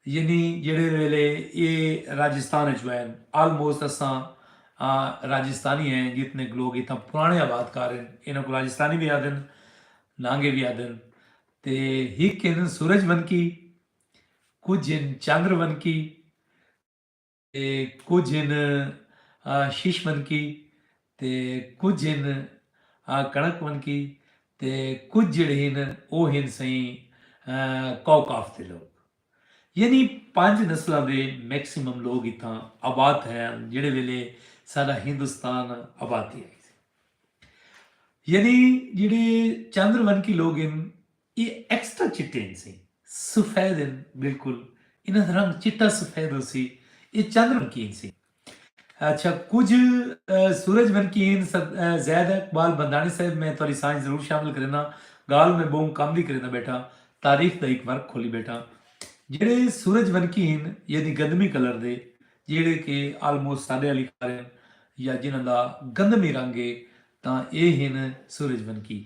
یعنی جیڑھے ویلے اے راجستان اچ وین آلموسٹ اساں راجستانی ہیں جتنے لوگ اتھاں پرانے آباد کار ہیں انہاں کو راجستانی بھی آدھن نانگے بھی آدھن تے ہک ہن سورج ونکی کچھ ہن چندر ونکی تے کجھ ہن شش ونکی تے کجھ ہن کݨک ونکی تے کجھ جیڑھے ہن او ہن سئیں کوکاف دے لوک یعنی پنج نسلاں دے میکسیمم لوک اتھاں آباد تھئے ہن جیڑھے ویلے ساڈا ہندوستان آباد تھیا ہئی یعنی جیڑھے چندر ونکی لوک ہن ایہ ایکسٹرا چٹے ہنسیں۔ سفید ہن بالکل۔ انہاں دا رنگ چٹا سفید ہوسی۔ ایہ چند ونکی ہنسیں۔ اچھا کجھ سورج ونکی ہن۔ زید اقبال بندھاݨی صاحب میں تہاݙی سانجھ ضرور شامل کرینداں۔ ڳالھ میں ٻہوں کم دی کرینداں ٻیٹھاں۔ تاریخ دا ہک ورق کھولی ٻیٹھاں۔ جیڑھے سورج ونکی ہن یعنی گندمی کلر دے جیڑھے کہ آلموسٹ ساݙے آلی خارن یا جنہاں دا گندمی رنگ ہے تاں ایہ ہن سورج ونکی۔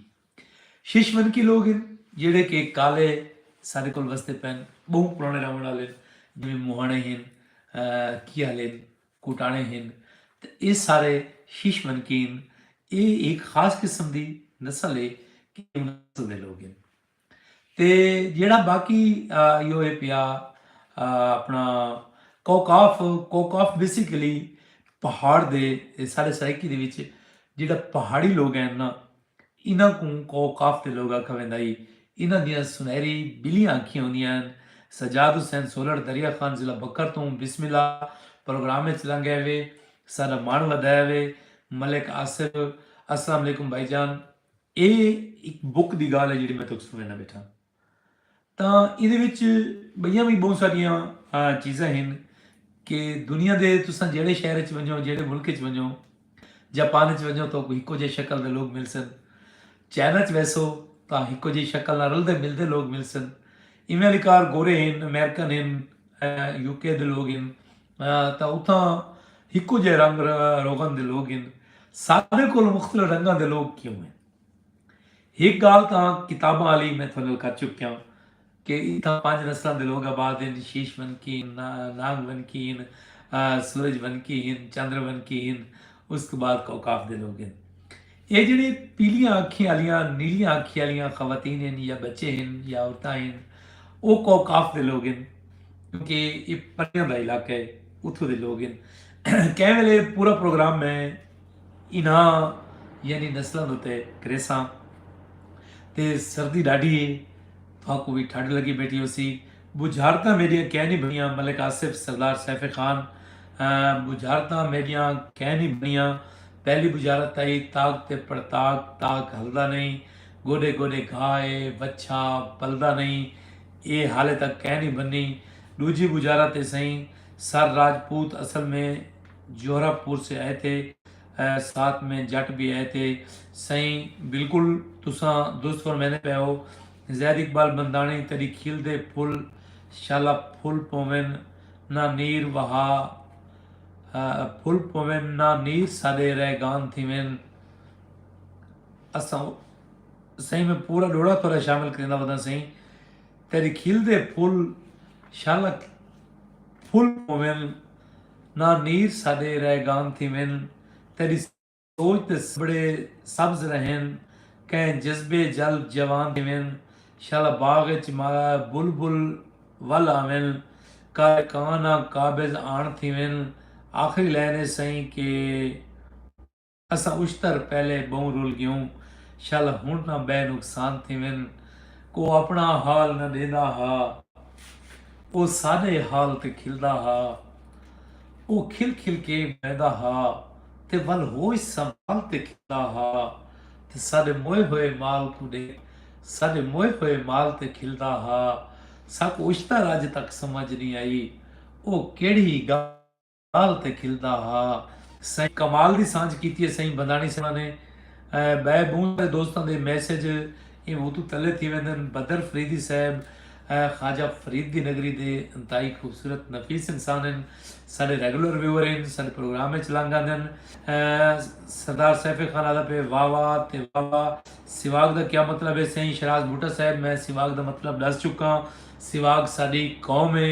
شیشمنکی لوگ ہن جیڑھے کہ کالے ساڈے کول وسدے پئن بہوں پرانے رہونڑ آلے ہن جیویں موہانے ہن کیہل ہن کوٹانے ہن تے ایہ سارے شیشمنکی ہن ایہ ہک خاص قسم دی نسل ہے کہ انہاں نسل دے لوگ ہن تے جیڑھا باقی ایہو ہے پیا اپنا کوکاف کوکاف بیسیکلی پہاڑ دے سارے سرائیکی دے وچ جیڑھا پہاڑی لوگ ہن نا انہاں کوں کو قاف دے لوگ آکھا ویندا ہئی۔ انہاں دیاں سنہری بلیاں اکھیاں ہوندیاں ہن۔ سجاد حسین سولڑ دریا خان ضلع بھکر توں بسم اللہ پروگرام اچ لنگ گئے وے۔ ساڈا مان ودھایا وے۔ ملک آصف السلام علیکم بھائی جان اے ہک بک دی گالھ ہے جیڑھی میں تہاکوں سنڑیندہ بیٹھاں۔ تاں ایندے وچ ٻئیاں وی ٻہوں ساریاں چیزاں ہن کہ دنیا دے تساں جیڑھے شہر اچ ونجو جیڑھے ملک اچ ونجو جاپان اچ ونجو تاں کو ہکو جیہے شکل دے لوگ ملسن چائنا اچ ویسو تاں ہکو جیہی شکل نال رلدے ملدے لوگ ملسن ایویں آلی کار گورے ہن امیرکن ہن یو کے دے لوگ ہن تاں اتھاں ہکو جیہے رنگ روغن دے لوگ ہن سارے کول مختلف رنگاں دے لوگ کیوں ہن ہک گالھ تاں کتاباں آلی میں تھوڑے نال کر چکیاں کہ اتھاں پنج نسلاں دے لوگ آباد ہن، شیش ونکی ہن، نانگ ونکی ہن، سورج ونکی ہن، چندر ونکی ہن، اس توں بعد کوکاف دے لوگ ہن۔ ایہ جیڑھے پیلیاں اکھیں آلیاں، نیلیاں اکھیں آلیاں خواتین ہن یا بچے ہن یا عورتاں ہن او کوکاف دے لوگ ہن کیونکہ ایہ پریاں دا علاقہ ہے اتھوں دے لوگ ہن۔ کہیں ویلے پورا پروگرام میں۔ انہاں یعنی نسلاں اتے کریساں تے سردی ڈاڈھی اے تہاکوں وی ٹھڈ لگی بیٹھی ہوسی بجھارتاں میڈیاں کینی بنیاں ملک آصف سردار سیف خان بجھارتاں میڈیاں کینی بنیاں پہلی بجھارت تائی تاک تے پڑتاک تاک ہلدا نہیں گوڈے گوڈے گھا اے وچھا پلدا نہیں اے حالے تک کینی بنی ڈوجھی بجھارت اے سئیں سر راجپوت اصل میں جورب پور سے ائے تھے ساتھ میں جٹ بھی ائے تھے سئیں بالکل تساں درست فرمیندے پئے ہو زید اقبال بنداݨی تیݙی کھل دے پھل شالا پھل پوون نہ نیر وہا پھل پوون نہ نیر ساݙے رہ گان تھیون اساں سئیں میں پورا ݙوہڑا تھوڑا شامل کریندا وداں سئیں تیݙی کھل دے پھل شالا پھل پوون نہ نیر ساݙے رہ گان تھیون تیݙی سوچ تے سبڑے سبز رہین کئیں جذبے جلب جوان تھیون شالا باغ اچ مارا بلبل ول آون کالے کاں نہ قابض آن تھیون آخری لائن ایسئیں کہ۔ اساں اشتر پہلے بہوں رل گیوں شل ہنڑ نہ بئے نقصان تھیون کو اپنا حال نہ ڈیندا ہا او ساڈے حال تے کھلدا ہا او کھل کھل کے بہندا ہا تے ول ہوش سنبھال تے کھلدا ہا تے ساڈے موئے ہوئے مال کوں ڈیکھ ساڈے موئے ہوئے مال تے کھلدا ہا ساکوں اشتر اج تک سمجھ نی آئی او کیڑھی گالھ ڳالھ تے کھلدا ہا سئیں۔ کمال دی سانجھ کیتی ہے سئیں بنداݨی صاحباں نے ٻئے ٻہوں سارے دوستاں دے میسج ایں اتوں تلے تھی ویندن بدر فریدی صاحب خواجہ فرید دی نگری دے انتہائی خوبصورت نفیس انسان ہن ساݙے ریگولر ویور ہن ساݙے پروگرام اچ لنگ آندن سردار سیف خان آہدا پئے واہ واہ تے واہ واہ سیواگ دا کیا مطلب ہے سئیں شہراز بھٹہ صاحب میں سیواگ دا مطلب ݙس چکاں سیواگ ساݙی قوم ہے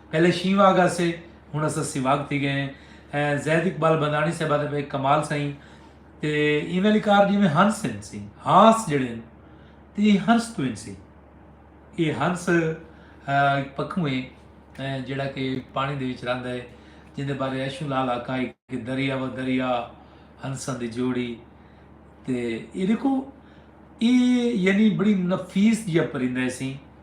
پہلے شیں واگ آسے ہن اساں سیواگ تھی گئے ہیں اے زید اقبال بندانی صاحبہ دے ایک کمال سائیں تے ایویں لکار جی میں ہنس ہیں سی ہاس جڑے ہیں تے یہ ہنس تو ہیں سی یہ ہنس ایک پکھوں ہیں جڑا کہ پانی دے وچ رہندا ہے جن دے بارے ایشو لال آقا ہے کہ دریا و دریا ہنساں دی جوڑی تے یہ دیکھو یہ یعنی بڑی نفیس جیا پرندہ ہے سی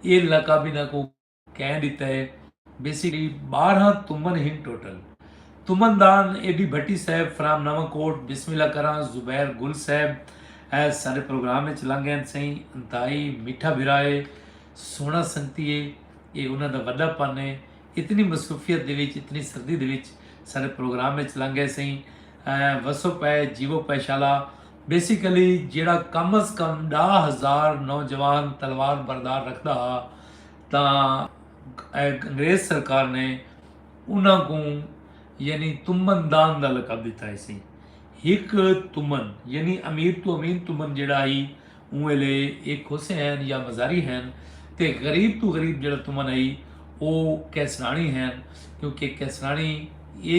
اے لقب انہاں کوں کئیں ݙتا ہے؟ بیسیکلی ٻارہاں تمن ہن ٹوٹل۔ تمن دان اے ڈی بھٹی صاحب فرام نواں کوٹ، بسم اللہ کراں زبیر گل صاحب اے ساڈے پروگرام اچ لنگ گئن سئیں انتہائی میٹھا بھرا اے سوہنڑا سنگتی اے اے انہاں دا وڈا پن اے اتنی مصروفیت دے وچ اتنی سردی دے وچ ساڈے پروگرام اچ لنگ گئے سئیں وسو پئے جیوو پئے شالا بیسیکلی جیڑھا کم از کم ݙاہ ہزار نوجوان تلوار بردار رکھدا ہا تاں انگریز سرکار نے انہاں کوں یعنی تمن دان دا لقب ݙتا ہیسی ہک تمن یعنی امیر تو امین تمن جیڑھا ہی اوں ویلے ایک ہوسے ہین یا مزاری ہین تے غریب تو غریب جیڑھا تمن ہئی او کیسراݨی ہین کیونکہ کیسراݨی اے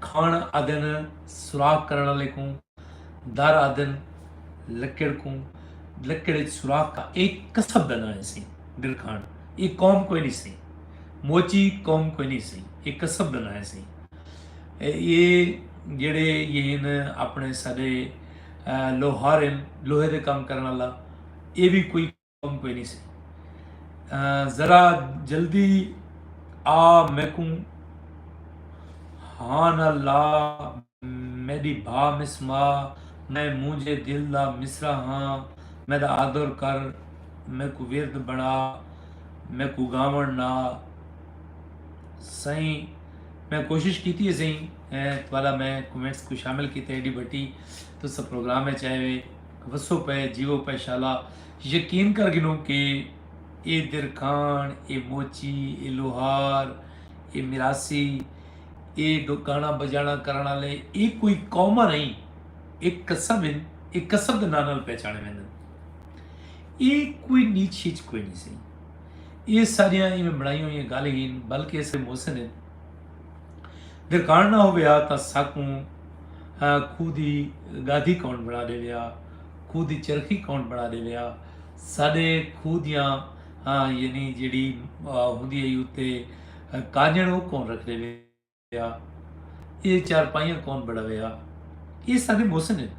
کھݨ آدن سوراخ کرݨ آلے کوں، در آدن لکڑ کوں، لکڑ اچ سوراخ کا اے کسب دا ناں ہسی، ڈر کھاݨ اے قوم کوئی نی سی، موچی قوم کوئی نی سی، اے کسب دا ناں ہسی۔ اے جیڑھے یہن اپݨے ساڈے لوہار ہن، لوہے دے کم کرݨ آلا اے وی کوئی۔ کم کوئی نی سی ذرا جلدی آ میکوں ہاں نہ لا میڈی بھا مس ما میں مونجھے دل دا مصرع ہاں میڈا آدر کر میکوں ورد بنا میکوں گاون نا سائیں میں کوشش کیتی ہے سائیں توالا میں کومنٹس کو شامل کیتے ایڈی بٹی تو سا پروگرام ہے چاہے وسو پئے جیوو پئے شالا یقین کر گھنوں کہ اے درکھاݨ اے موچی اے لوہار اے مراسی اے ڈو گاݨا بجاݨا کرݨ آلے اے کوئی قوماں نئیں اے کسب ہن اے کسب دے ناں نال پہچاݨے ویندن اے کوئی نیچ ہیچ کوئی نئیں سئیں اے ساریاں ایویں بݨائیاں ہوئیاں گالھ ہن بلکہ اے سارے محسن ہن۔ درکاݨ نہ ہووے ہا تاں ساکوں کھوہ دی گادھی کون بݨا ݙیوے ہا، کھوہ دی چرخی کون بݨا ݙیوے ہا، ساݙے کھوہ دیاں یعنی جیڑھی ہوندی ہئی اتے کانڄݨ او کون رکھ ݙیوے ہا، ایہ چارپائیاں کون بݨاوے ہا، ایہ ساݙے محسن ہن،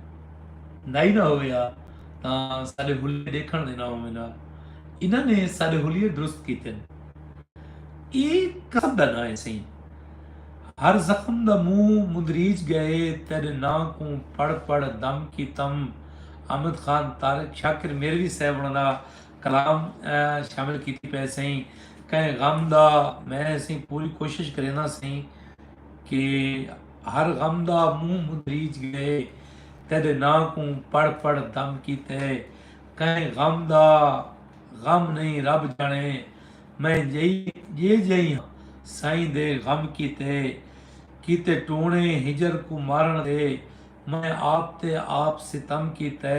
نائی نہ ہووے ہا تاں ساݙے حلیے ݙیکھݨ دے نہ ہوون ہا، انہاں نے ساݙے حلیے درست کیتن۔ اے کسب دا ناں ہے سئیں۔ ہر زخم دا منہ مندریج ڳئے تیݙے ناں کوں پڑھ پڑھ دم کیتم احمد خان طارق شاکر میروی صاحب ہوݨاں دا کلام شامل کیتی پئے سئیں کہیں غم دا میں سئیں پوری کوشش کرینداں سئیں کہ ہر غم دا منہ مندریج ڳئے تیݙے ناں کوں پڑھ پڑھ دم کیتے کہیں غم دا غم نئیں رب ڄاݨے میں جئے جئیں ہاں سائیں دے غم کیتے کیتے ٹوݨے ہجر کوں مارݨ دے میں آپ تے آپ ستم کیتے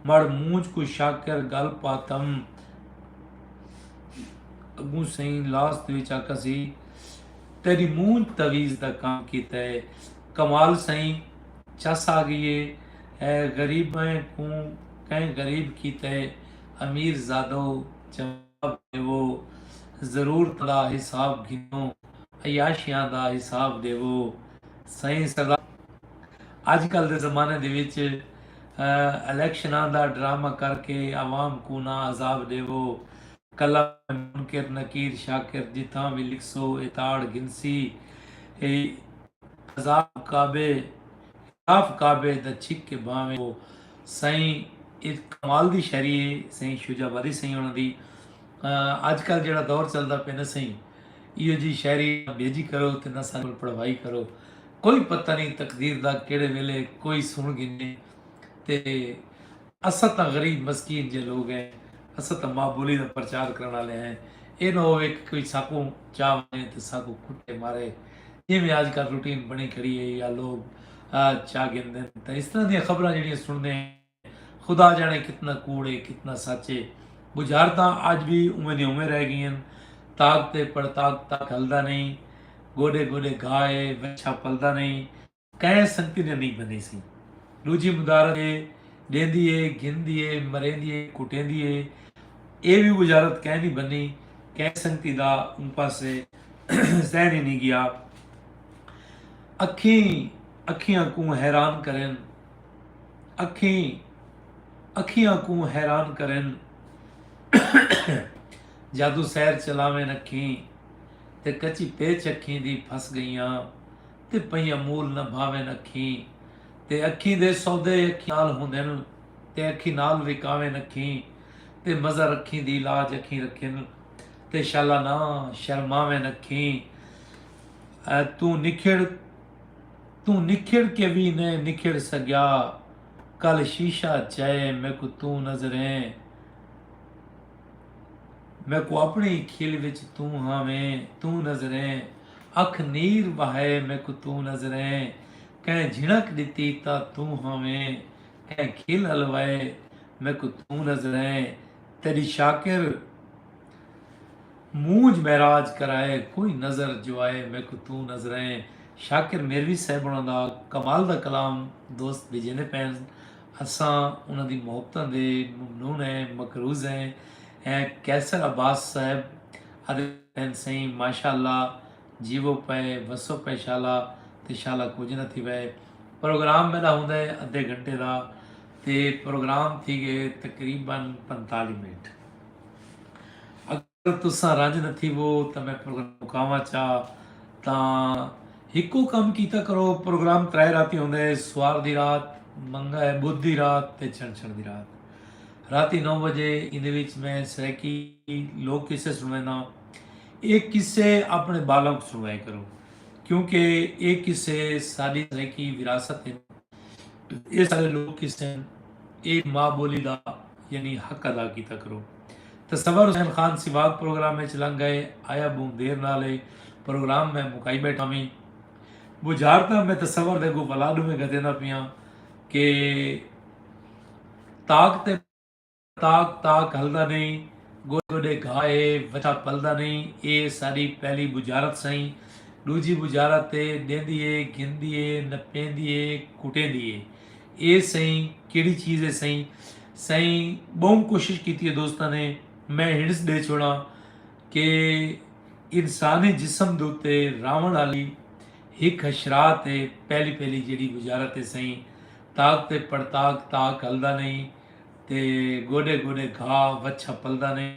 مڑ مونجھ کوں شاکر گل پاتم اڳوں سئیں لاسٹ وچ آکھاسی تیݙی مونجھ تعویذ دا کم کیتے کمال سئیں چس آ ڳئی اے غریبیں کوں کئیں غریب کیتے امیر زادو جواب ݙیوو ضرورتاں دا حساب گھنو عیاشیاں دا حساب ݙیوو سئیں سزا اڄ کل دے زمانے دے وچ الیکشناں دا ڈرامہ کر کے عوام کوں نہ عذاب ݙیوو کلام منکر نکیر شاکر جتھاں وی لکھسو اے تاڑ گھنسی اے عذاب کعبے طواف کعبہ دا چھک کے بھانویں او سائیں اے کمال دی شاعری اے سائیں شجاع باری سائیں ہونا دی اج کل جیڑا دور چلدا پے نا سائیں ایو جی شاعری نا بھیجی کرو تے نا سانو پڑھوائی کرو کوئی پتہ نہیں تقدیر دا کیڑے ویلے کوئی سن گھنے تے اساں تاں غریب مسکین جئے لوگ ہیں اساں تاں ماء بولی دا پرچار کرݨ آلے ہیں اے نہ ہووے کہ کوئی ساکوں چا ونجے تے ساکوں کٹے مارے جیویں اج کل روٹین بݨی کھڑی ہے یا لوگ چا گھندن تاں اس طرح دیاں خبراں جیڑھیاں سݨدے ہیں خدا جاݨے کتنا کوڑ ہے کتنا سچ ہے بجھارتاں اج وی اوویں دیاں اوویں رہ گئین طاقت ہے پر طاقت تک ہلدا نہیں گوڈے گوڈے گھا ہے وچھا پلدا نہیں کہیں سنگتی نہ نئیں بندی سی ڈوجھی مدارت اے ڈیندی اے گھندی اے مریندی اے کٹیندی اے اے وی وزارت کہیں نی بنی کہیں سنگتی دا اوں پاسے ذہن ای نی گیا اکھیں اکھیاں کوں حیران کرن اکھیں اکھیاں کوں حیران کرن جادو سیر چلاوین اکھیں تے کچی پیچ اکھیں دی پھس گئیاں تے پئیاں مول نہ بھاوین اکھیں تے اکھیں دے سودے اکھیں نال ہوندن تے اکھیں نال وکاوین اکھیں تے مزر اکھیں دی لاج اکھیں رکھن تے شالا نہ شرماوین اکھیں توں نکھڑ توں نکھڑ کے وی نئیں نکھڑ سگیا کل شیشہ چئے میکوں توں نظریں میکوں اپݨے ای کھل وچ توں ہاویں توں نظریں اکھ نیر وہائے میکوں توں نظریں کہیں جھنک ݙتی تاں توں ہاویں کہیں کھل الوائے میکوں توں نظریں تیݙی شاکر مونجھ معراج کرائے کوئی نظر جو آئے میکوں توں نظریں شاکر میروی صاحب ہونا دا کمال دا کلام دوست بھیجیندے پئے اساں انہاں دی محبتاں دے ممنون ہیں مقروض ہیں ہیں قیصر عباس صاحب ادے ہیں سئیں ماشاء اللہ جیوو پئے وسو پئے شالا تے شالا کچھ نہ تھی وئے پروگرام میرا ہوندا ہے ادھے گھنٹے دا تے پروگرام تھی گئے تقریبا پنتالی منٹ اگر تساں رنج نہ تھیوو تاں میں پروگرام مکاواں چا تاں ہکو کم کیتا کرو پروگرام ترائے راتی ہوندے ہے سوار دی رات منگا ہے بدھ دی رات تے چھنچھڑ دی رات راتی نو بجے ایندے وچ میں سرائیکی لوک قصے سنوینا اے قصے اپنے بالوں کو سنوائے کرو کیونکہ اے قصے ساری سرائیکی وراثت ہیں اے سارے لوک قصے ہیں اے ماں بولی دا یعنی حق ادا کیتا کرو۔ تصور حسین خان سیواد پروگرام اچ لنگ گئے آیا بہوں دیر نال اے پروگرام میں مکائی بیٹھا ویں بجھارتاں میں تصور دے اگوں ولا ڈویں گھتیندا پیاں کہ تاک تے تاک تاک ہلدا نہیں گوڈے گوڈے گھا اے وچھا پلدا نہیں اے ساڈی پہلی بجھارت سئیں ڈوجھی بجھارت تے ڈیندی اے گھندی اے نپیندی اے کٹیندی اے۔ اے سئیں کیڑی چیز اے سئیں۔ سئیں بہوں کوشش کیتی اے دوستاں نے میں ہنٹس ڈے چھوڑاں کہ انسانی جسم دے اتے راونڑ آلی ہک حشرات اے پہلی پہلی جیڑی وزارت اے سئیں تاک تے پڑتاک تاک ہلدا نئیں تے گوڈے گوڈے گھا وچھا پلدا نئیں۔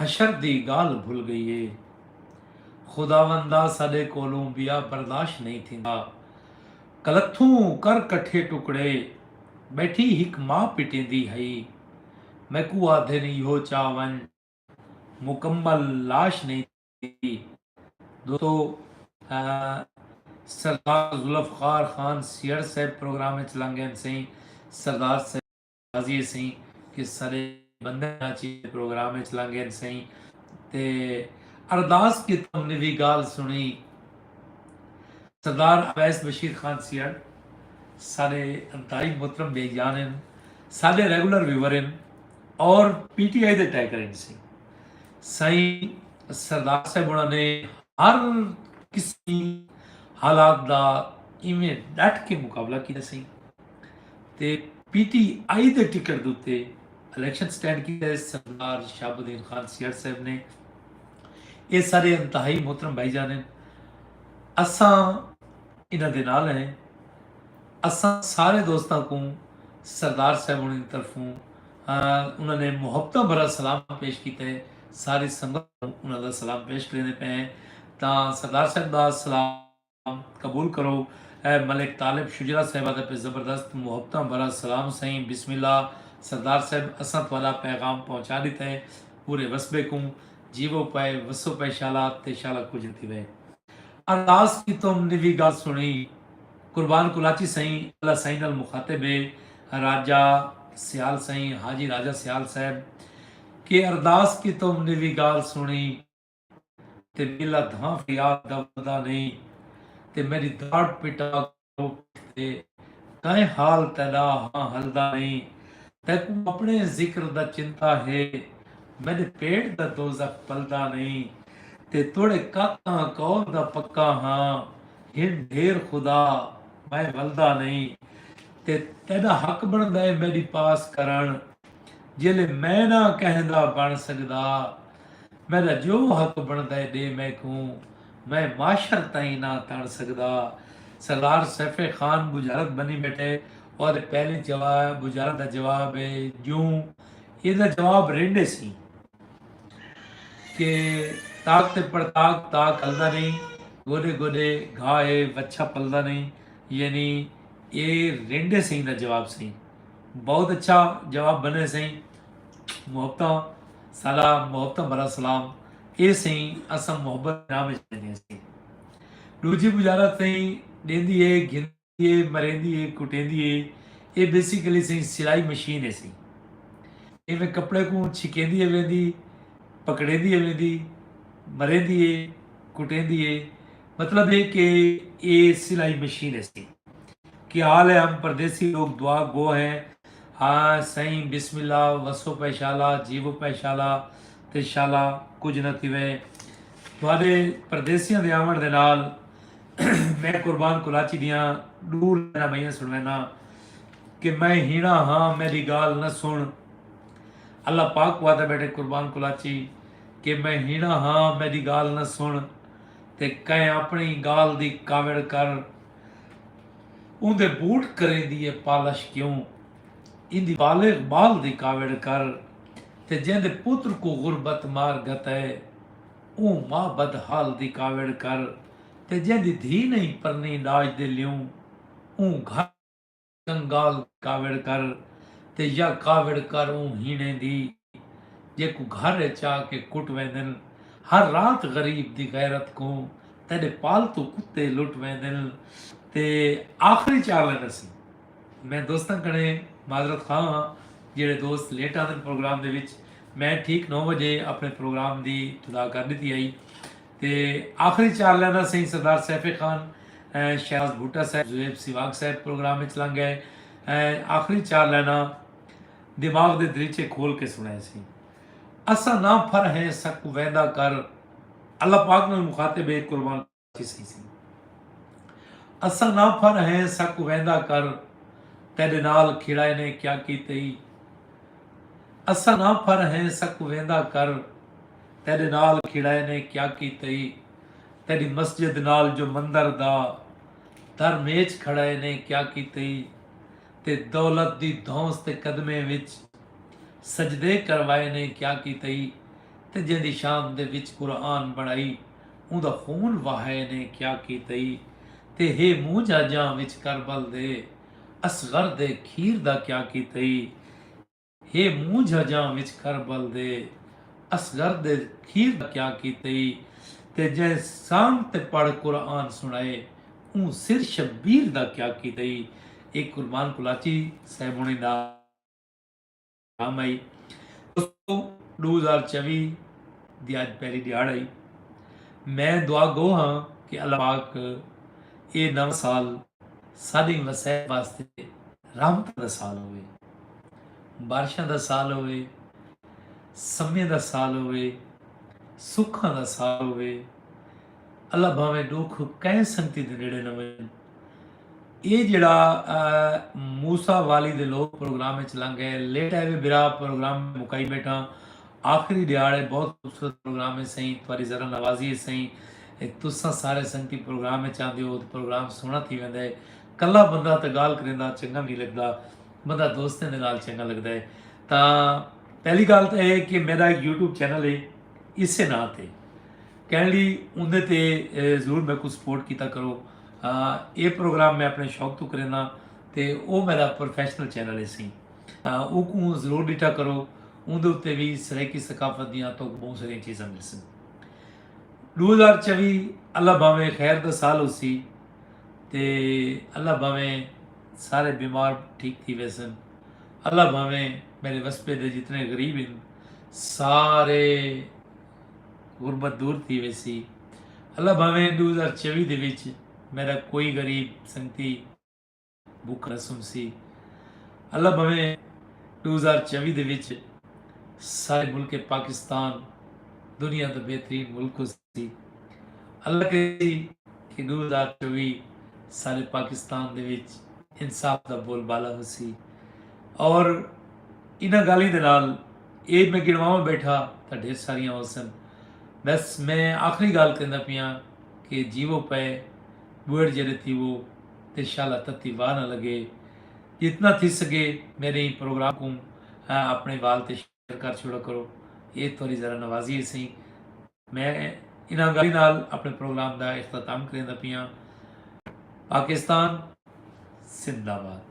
حشر دی گالھ بھل گئی اے خداوندا ساڈے کولوں بیا برداشت نئیں تھیندا کلتھوں کر کٹھے ٹکڑے بیٹھی ہک ماء پٹیندی ہئی میکوں آدھن ایہو چا ونج مکمل لاش نئیں تھیندی دوستو سردار ذوالفقار خان سیہڑ صاحب پروگرام وچ لنگین سئیں سردار صاحب راضی ہے سئیں کہ سڈے بندے کراچی دے پروگرام اچ لنگھن سئیں تے ارداس کیتے انہیں وی گالھ سنڑی سردار اویس بشیر خان سیئڑ ساڈے انتہائی محترم بھائی جان ہن ساڈے ریگولر ویور ہن اور پی ٹی آئی دے ٹیکر ہن سئیں سائیں سردار صاحب انہاں نے ہر کسی حالات دا ایویں ڈٹ کے مقابلہ کیتا سائیں تے پی ٹی آئی دے ٹکٹ دے اتے الیکشن سٹینڈ کیتا ہے سردار شہاب الدین خان سیال صاحب نے اے سارے انتہائی محترم بھائی جان ہیں اساں انہاں دے نال ہیں اساں سارے دوستاں کو سردار صاحب انہاں دی طرفوں انہاں نے محبتاں بھرا سلام پیش کیتا ہے ساری سنگت انہاں دا سلام پیش کرنے پے ہیں تاں سردار صاحب دا سلام قبول کرو اے ملک طالب شجرا صاحبہ دا پہ زبردست محبتاں بھرا سلام سئیں بسم اللہ سردار صاحب اساں تہاڈا پیغام پہنچا ڈتا ہے پورے وسبے کوں جیوو پئے وسو پئے شالا تے شالا کجھ تھی وئے۔ ارداس کیتم نوی گال سنڑی۔ قربان کلاچی سئیں اللہ سائیں نال مخاطب اے راجہ سیال سئیں حاجی راجہ سیال صاحب کے ارداس کیتم نوی گال سنڑی۔ تے میلا دھاں خیال دا ولدا نئیں تے میڈی دھاڑ پٹا گھرو پٹھ تے کائیں حال تیڈا ہاں ہلدا نئیں تیکوں اپنے ذکر دا چنتا ہے میڈے پیٹ دا دوزخ پلدا نئیں تے توڑے کاکاں کول دا پکا ہاں ہن ڈھیر خدا میں ولدا نئیں تے تیڈا حق بندا ہے میڈی پاس کرن جیلے میں نہ کہیں دا بݨ سڳدا میݙا جو حق بݨدے ݙے میکوں میں معاشر تئیں نہ تݨ سڳدا سردار سیف خان بجارت بنی ٻیٹھے اوہدے پہلے جواب بجارت دا جواب ہے جوں ایہدا جواب رینڈے سیں کہ طاق تے پڑطاق طاق ہلدا نئیں گوݙے گوݙے گھا اے وچھا پلدا نئیں یعنی اے رینڈے سئیں دا جواب سئیں بہت اچھا جواب بنے سئیں محبتاں سالا محبتاں بھرا سلام اے سئیں اساں محبت نام وچ لیندے سئیں ڈوجھی بجارت سئیں ڈیندی اے گھن اے مریندی اے کٹیندی اے اے بیسیکلی سئیں سلائی مشین اے سئیں ایویں کپڑے کوں چھکیندی اے ویندی پکڑیندی اے ویندی مریندی اے کٹیندی اے مطلب اے کہ اے سلائی مشین اے سئیں کہ حال ہے ہم پردیسی لوگ دعا گو ہیں ہاں سئیں بسم اللہ وسو پے شالا جیو پے شالا تے شالا کچھ نہ تھیوے تھوڑے پردیسیاں دے آون دے نال میں قربان کلاچی دیاں ڈو لائناں بئیاں سنوینا کہ میں ہینا ہاں میری گال نہ سن اللہ پاک وعدہ بیٹھے قربان کلاچی کہ میں ہینا ہاں میری گال نہ سن تے کہیں اپنی گال دی کاوڑ کر اون دے بوٹ کریں دیئے پالش کیوں ان دی بالغ بال دی کاوڑ کر تے جن دے پتر کو غربت مار گھتا ہے اون ماں بدحال دی کاوڑ کر تے جیندی دھی نئیں پرنی ݙاج دے لیوں اوں گھر کنگال کاوڑ کر تے یا کاوڑ کر اوں ہیݨیں دی جیکوں گھر اچ آ کے کٹ ویندن ہر رات غریب دی غیرت کوں تیݙے پالتو کتے لٹ ویندن تے آخری چار لائناں سی میں دوستاں کنے معذرت خواہ ہاں جیڑھے دوست لیٹ آندن پروگرام دے وچ میں ٹھیک نو وجے اپنے پروگرام دی تدا کر ݙتی ہئی تے آخری چار لائناں سئیں سردار سیف خان ائیں شہباز بھٹہ صاحب زویب سیواگ صاحب پروگرام وچ لنگ گئے ائیں آخری چار لائناں دماغ دے دریچے کھول کے سنائے سی اساں نہ پھر ہیں سکو ویندا کر اللہ پاک نال مخاطب ہے قربان کسی سی اساں نہ پھر ہیں سکو ویندا کر تیرے نال کھڑائے نے کیا کیتے اساں نہ پھر ہیں سکو ویندا کر تیڈے نال کھڑائے نے کیا کیتئی تیڈی مسجد نال جو مندر دا در میچ کھڑائے نے کیا کیتئی تے دولت دی دھونس تے قدمیں وچ سجدے کروائے نے کیا کیتئی تے جیندی شام دے وچ قرآن بنڑائی اوندا خون وہائے نے کیا کیتئی تے ہے موں جاجاں وچ کربل دے اصغر دے کھیر دا کیا کیتئی ہے مونجھ اجاں وچ کربل دے اصغر دے کھیر دا کیا کیتئی تے جئیں سانگ تے پڑھ قرآن سنڑائے اوں سر شبیر دا کیا کیتئی اے قربان کلاچی صاحب ہونے دا کم ہئی دوستو ڈو ہزار چوی دی اج پہلی دیہاڑ ہئی میں دعا گو ہاں کہ اللہ پاک اے نواں سال ساڈیں وسائب واسطے رحمتاں دا سال ہووے۔ بارشاں دا سال ہووے۔ سمیں دا سال ہووے۔ سکھاں دا سال ہووے۔ اللہ بھانویں ڈوکھ کہیں سنگتی دے نیڑے نہ ونجن۔ اے جیڑھا موسی والی دے لوگ پروگرام وچ لنگ گئے لیٹ آئے وے برا پروگرام مکائی بیٹھاں آخری دیہاڑ ہے بہت خوبصورت پروگرام ہے سائیں تہاڈی ذرا نوازی ہے سائیں تساں سارے سنگتی پروگرام وچ آندے ہو تے پروگرام سوہنا تھی ویندا ہے کلا بندہ تاں گالھ کریندا چنگا وی نی لگدا بندہ دوستیں دے نال چنگا لگدا ہے تاں پہلی گالھ تاں ہے کہ میرا ایک یوٹیوب چینل ہے اسے ناں تے کہن لی اوندے تے ضرور میں کو سپورٹ کیتا کرو اے پروگرام میں اپنے شوق تو کریندا تے او میرا پروفیشنل چینل ہے سی او کو ضرور ڈٹا کرو اوندے تے وی سرائیکی ثقافت دیاں تو بہت ساری چیزاں ملسن دو ہزار چوی اللہ باویں خیر دا سال ہو سی تے اللہ بھاویں سارے بیمار ٹھیک تھی ویسن اللہ بھاویں میرے وسپے دے جتنے غریب ہیں سارے غربت دور تھی ویسی اللہ بھاویں دو ہزار چوی دے وچ میرا کوئی غریب سنگتی بک رسم سی اللہ بھویں ڈو ہزار چوی دے وچ سارے ملک پاکستان دنیا دا بہترین ملک ہو سی اللہ کریسی کہ ڈو ہزار چوی سارے پاکستان دے وچ انصاف دا بول بالا ہو سی اور انہاں گالیں دے نال اے میں گڑواں بیٹھا تا ڈھیر ساریاں ہو سن بس میں آخری گال کہندہ پیاں کہ جیوو پے بوڑ جڑے تیوو تے شالا تتی واہ نہ لگے جتنا تھی سگے میرے ایں پروگرام کوں اپنے وال تے شیئر کر چھوڑا کرو اے تھوڑی ذرا نوازی ہے سہی میں انہاں گالی نال اپنے پروگرام دا اختتام کریندا پیاں پاکستان زندہ آباد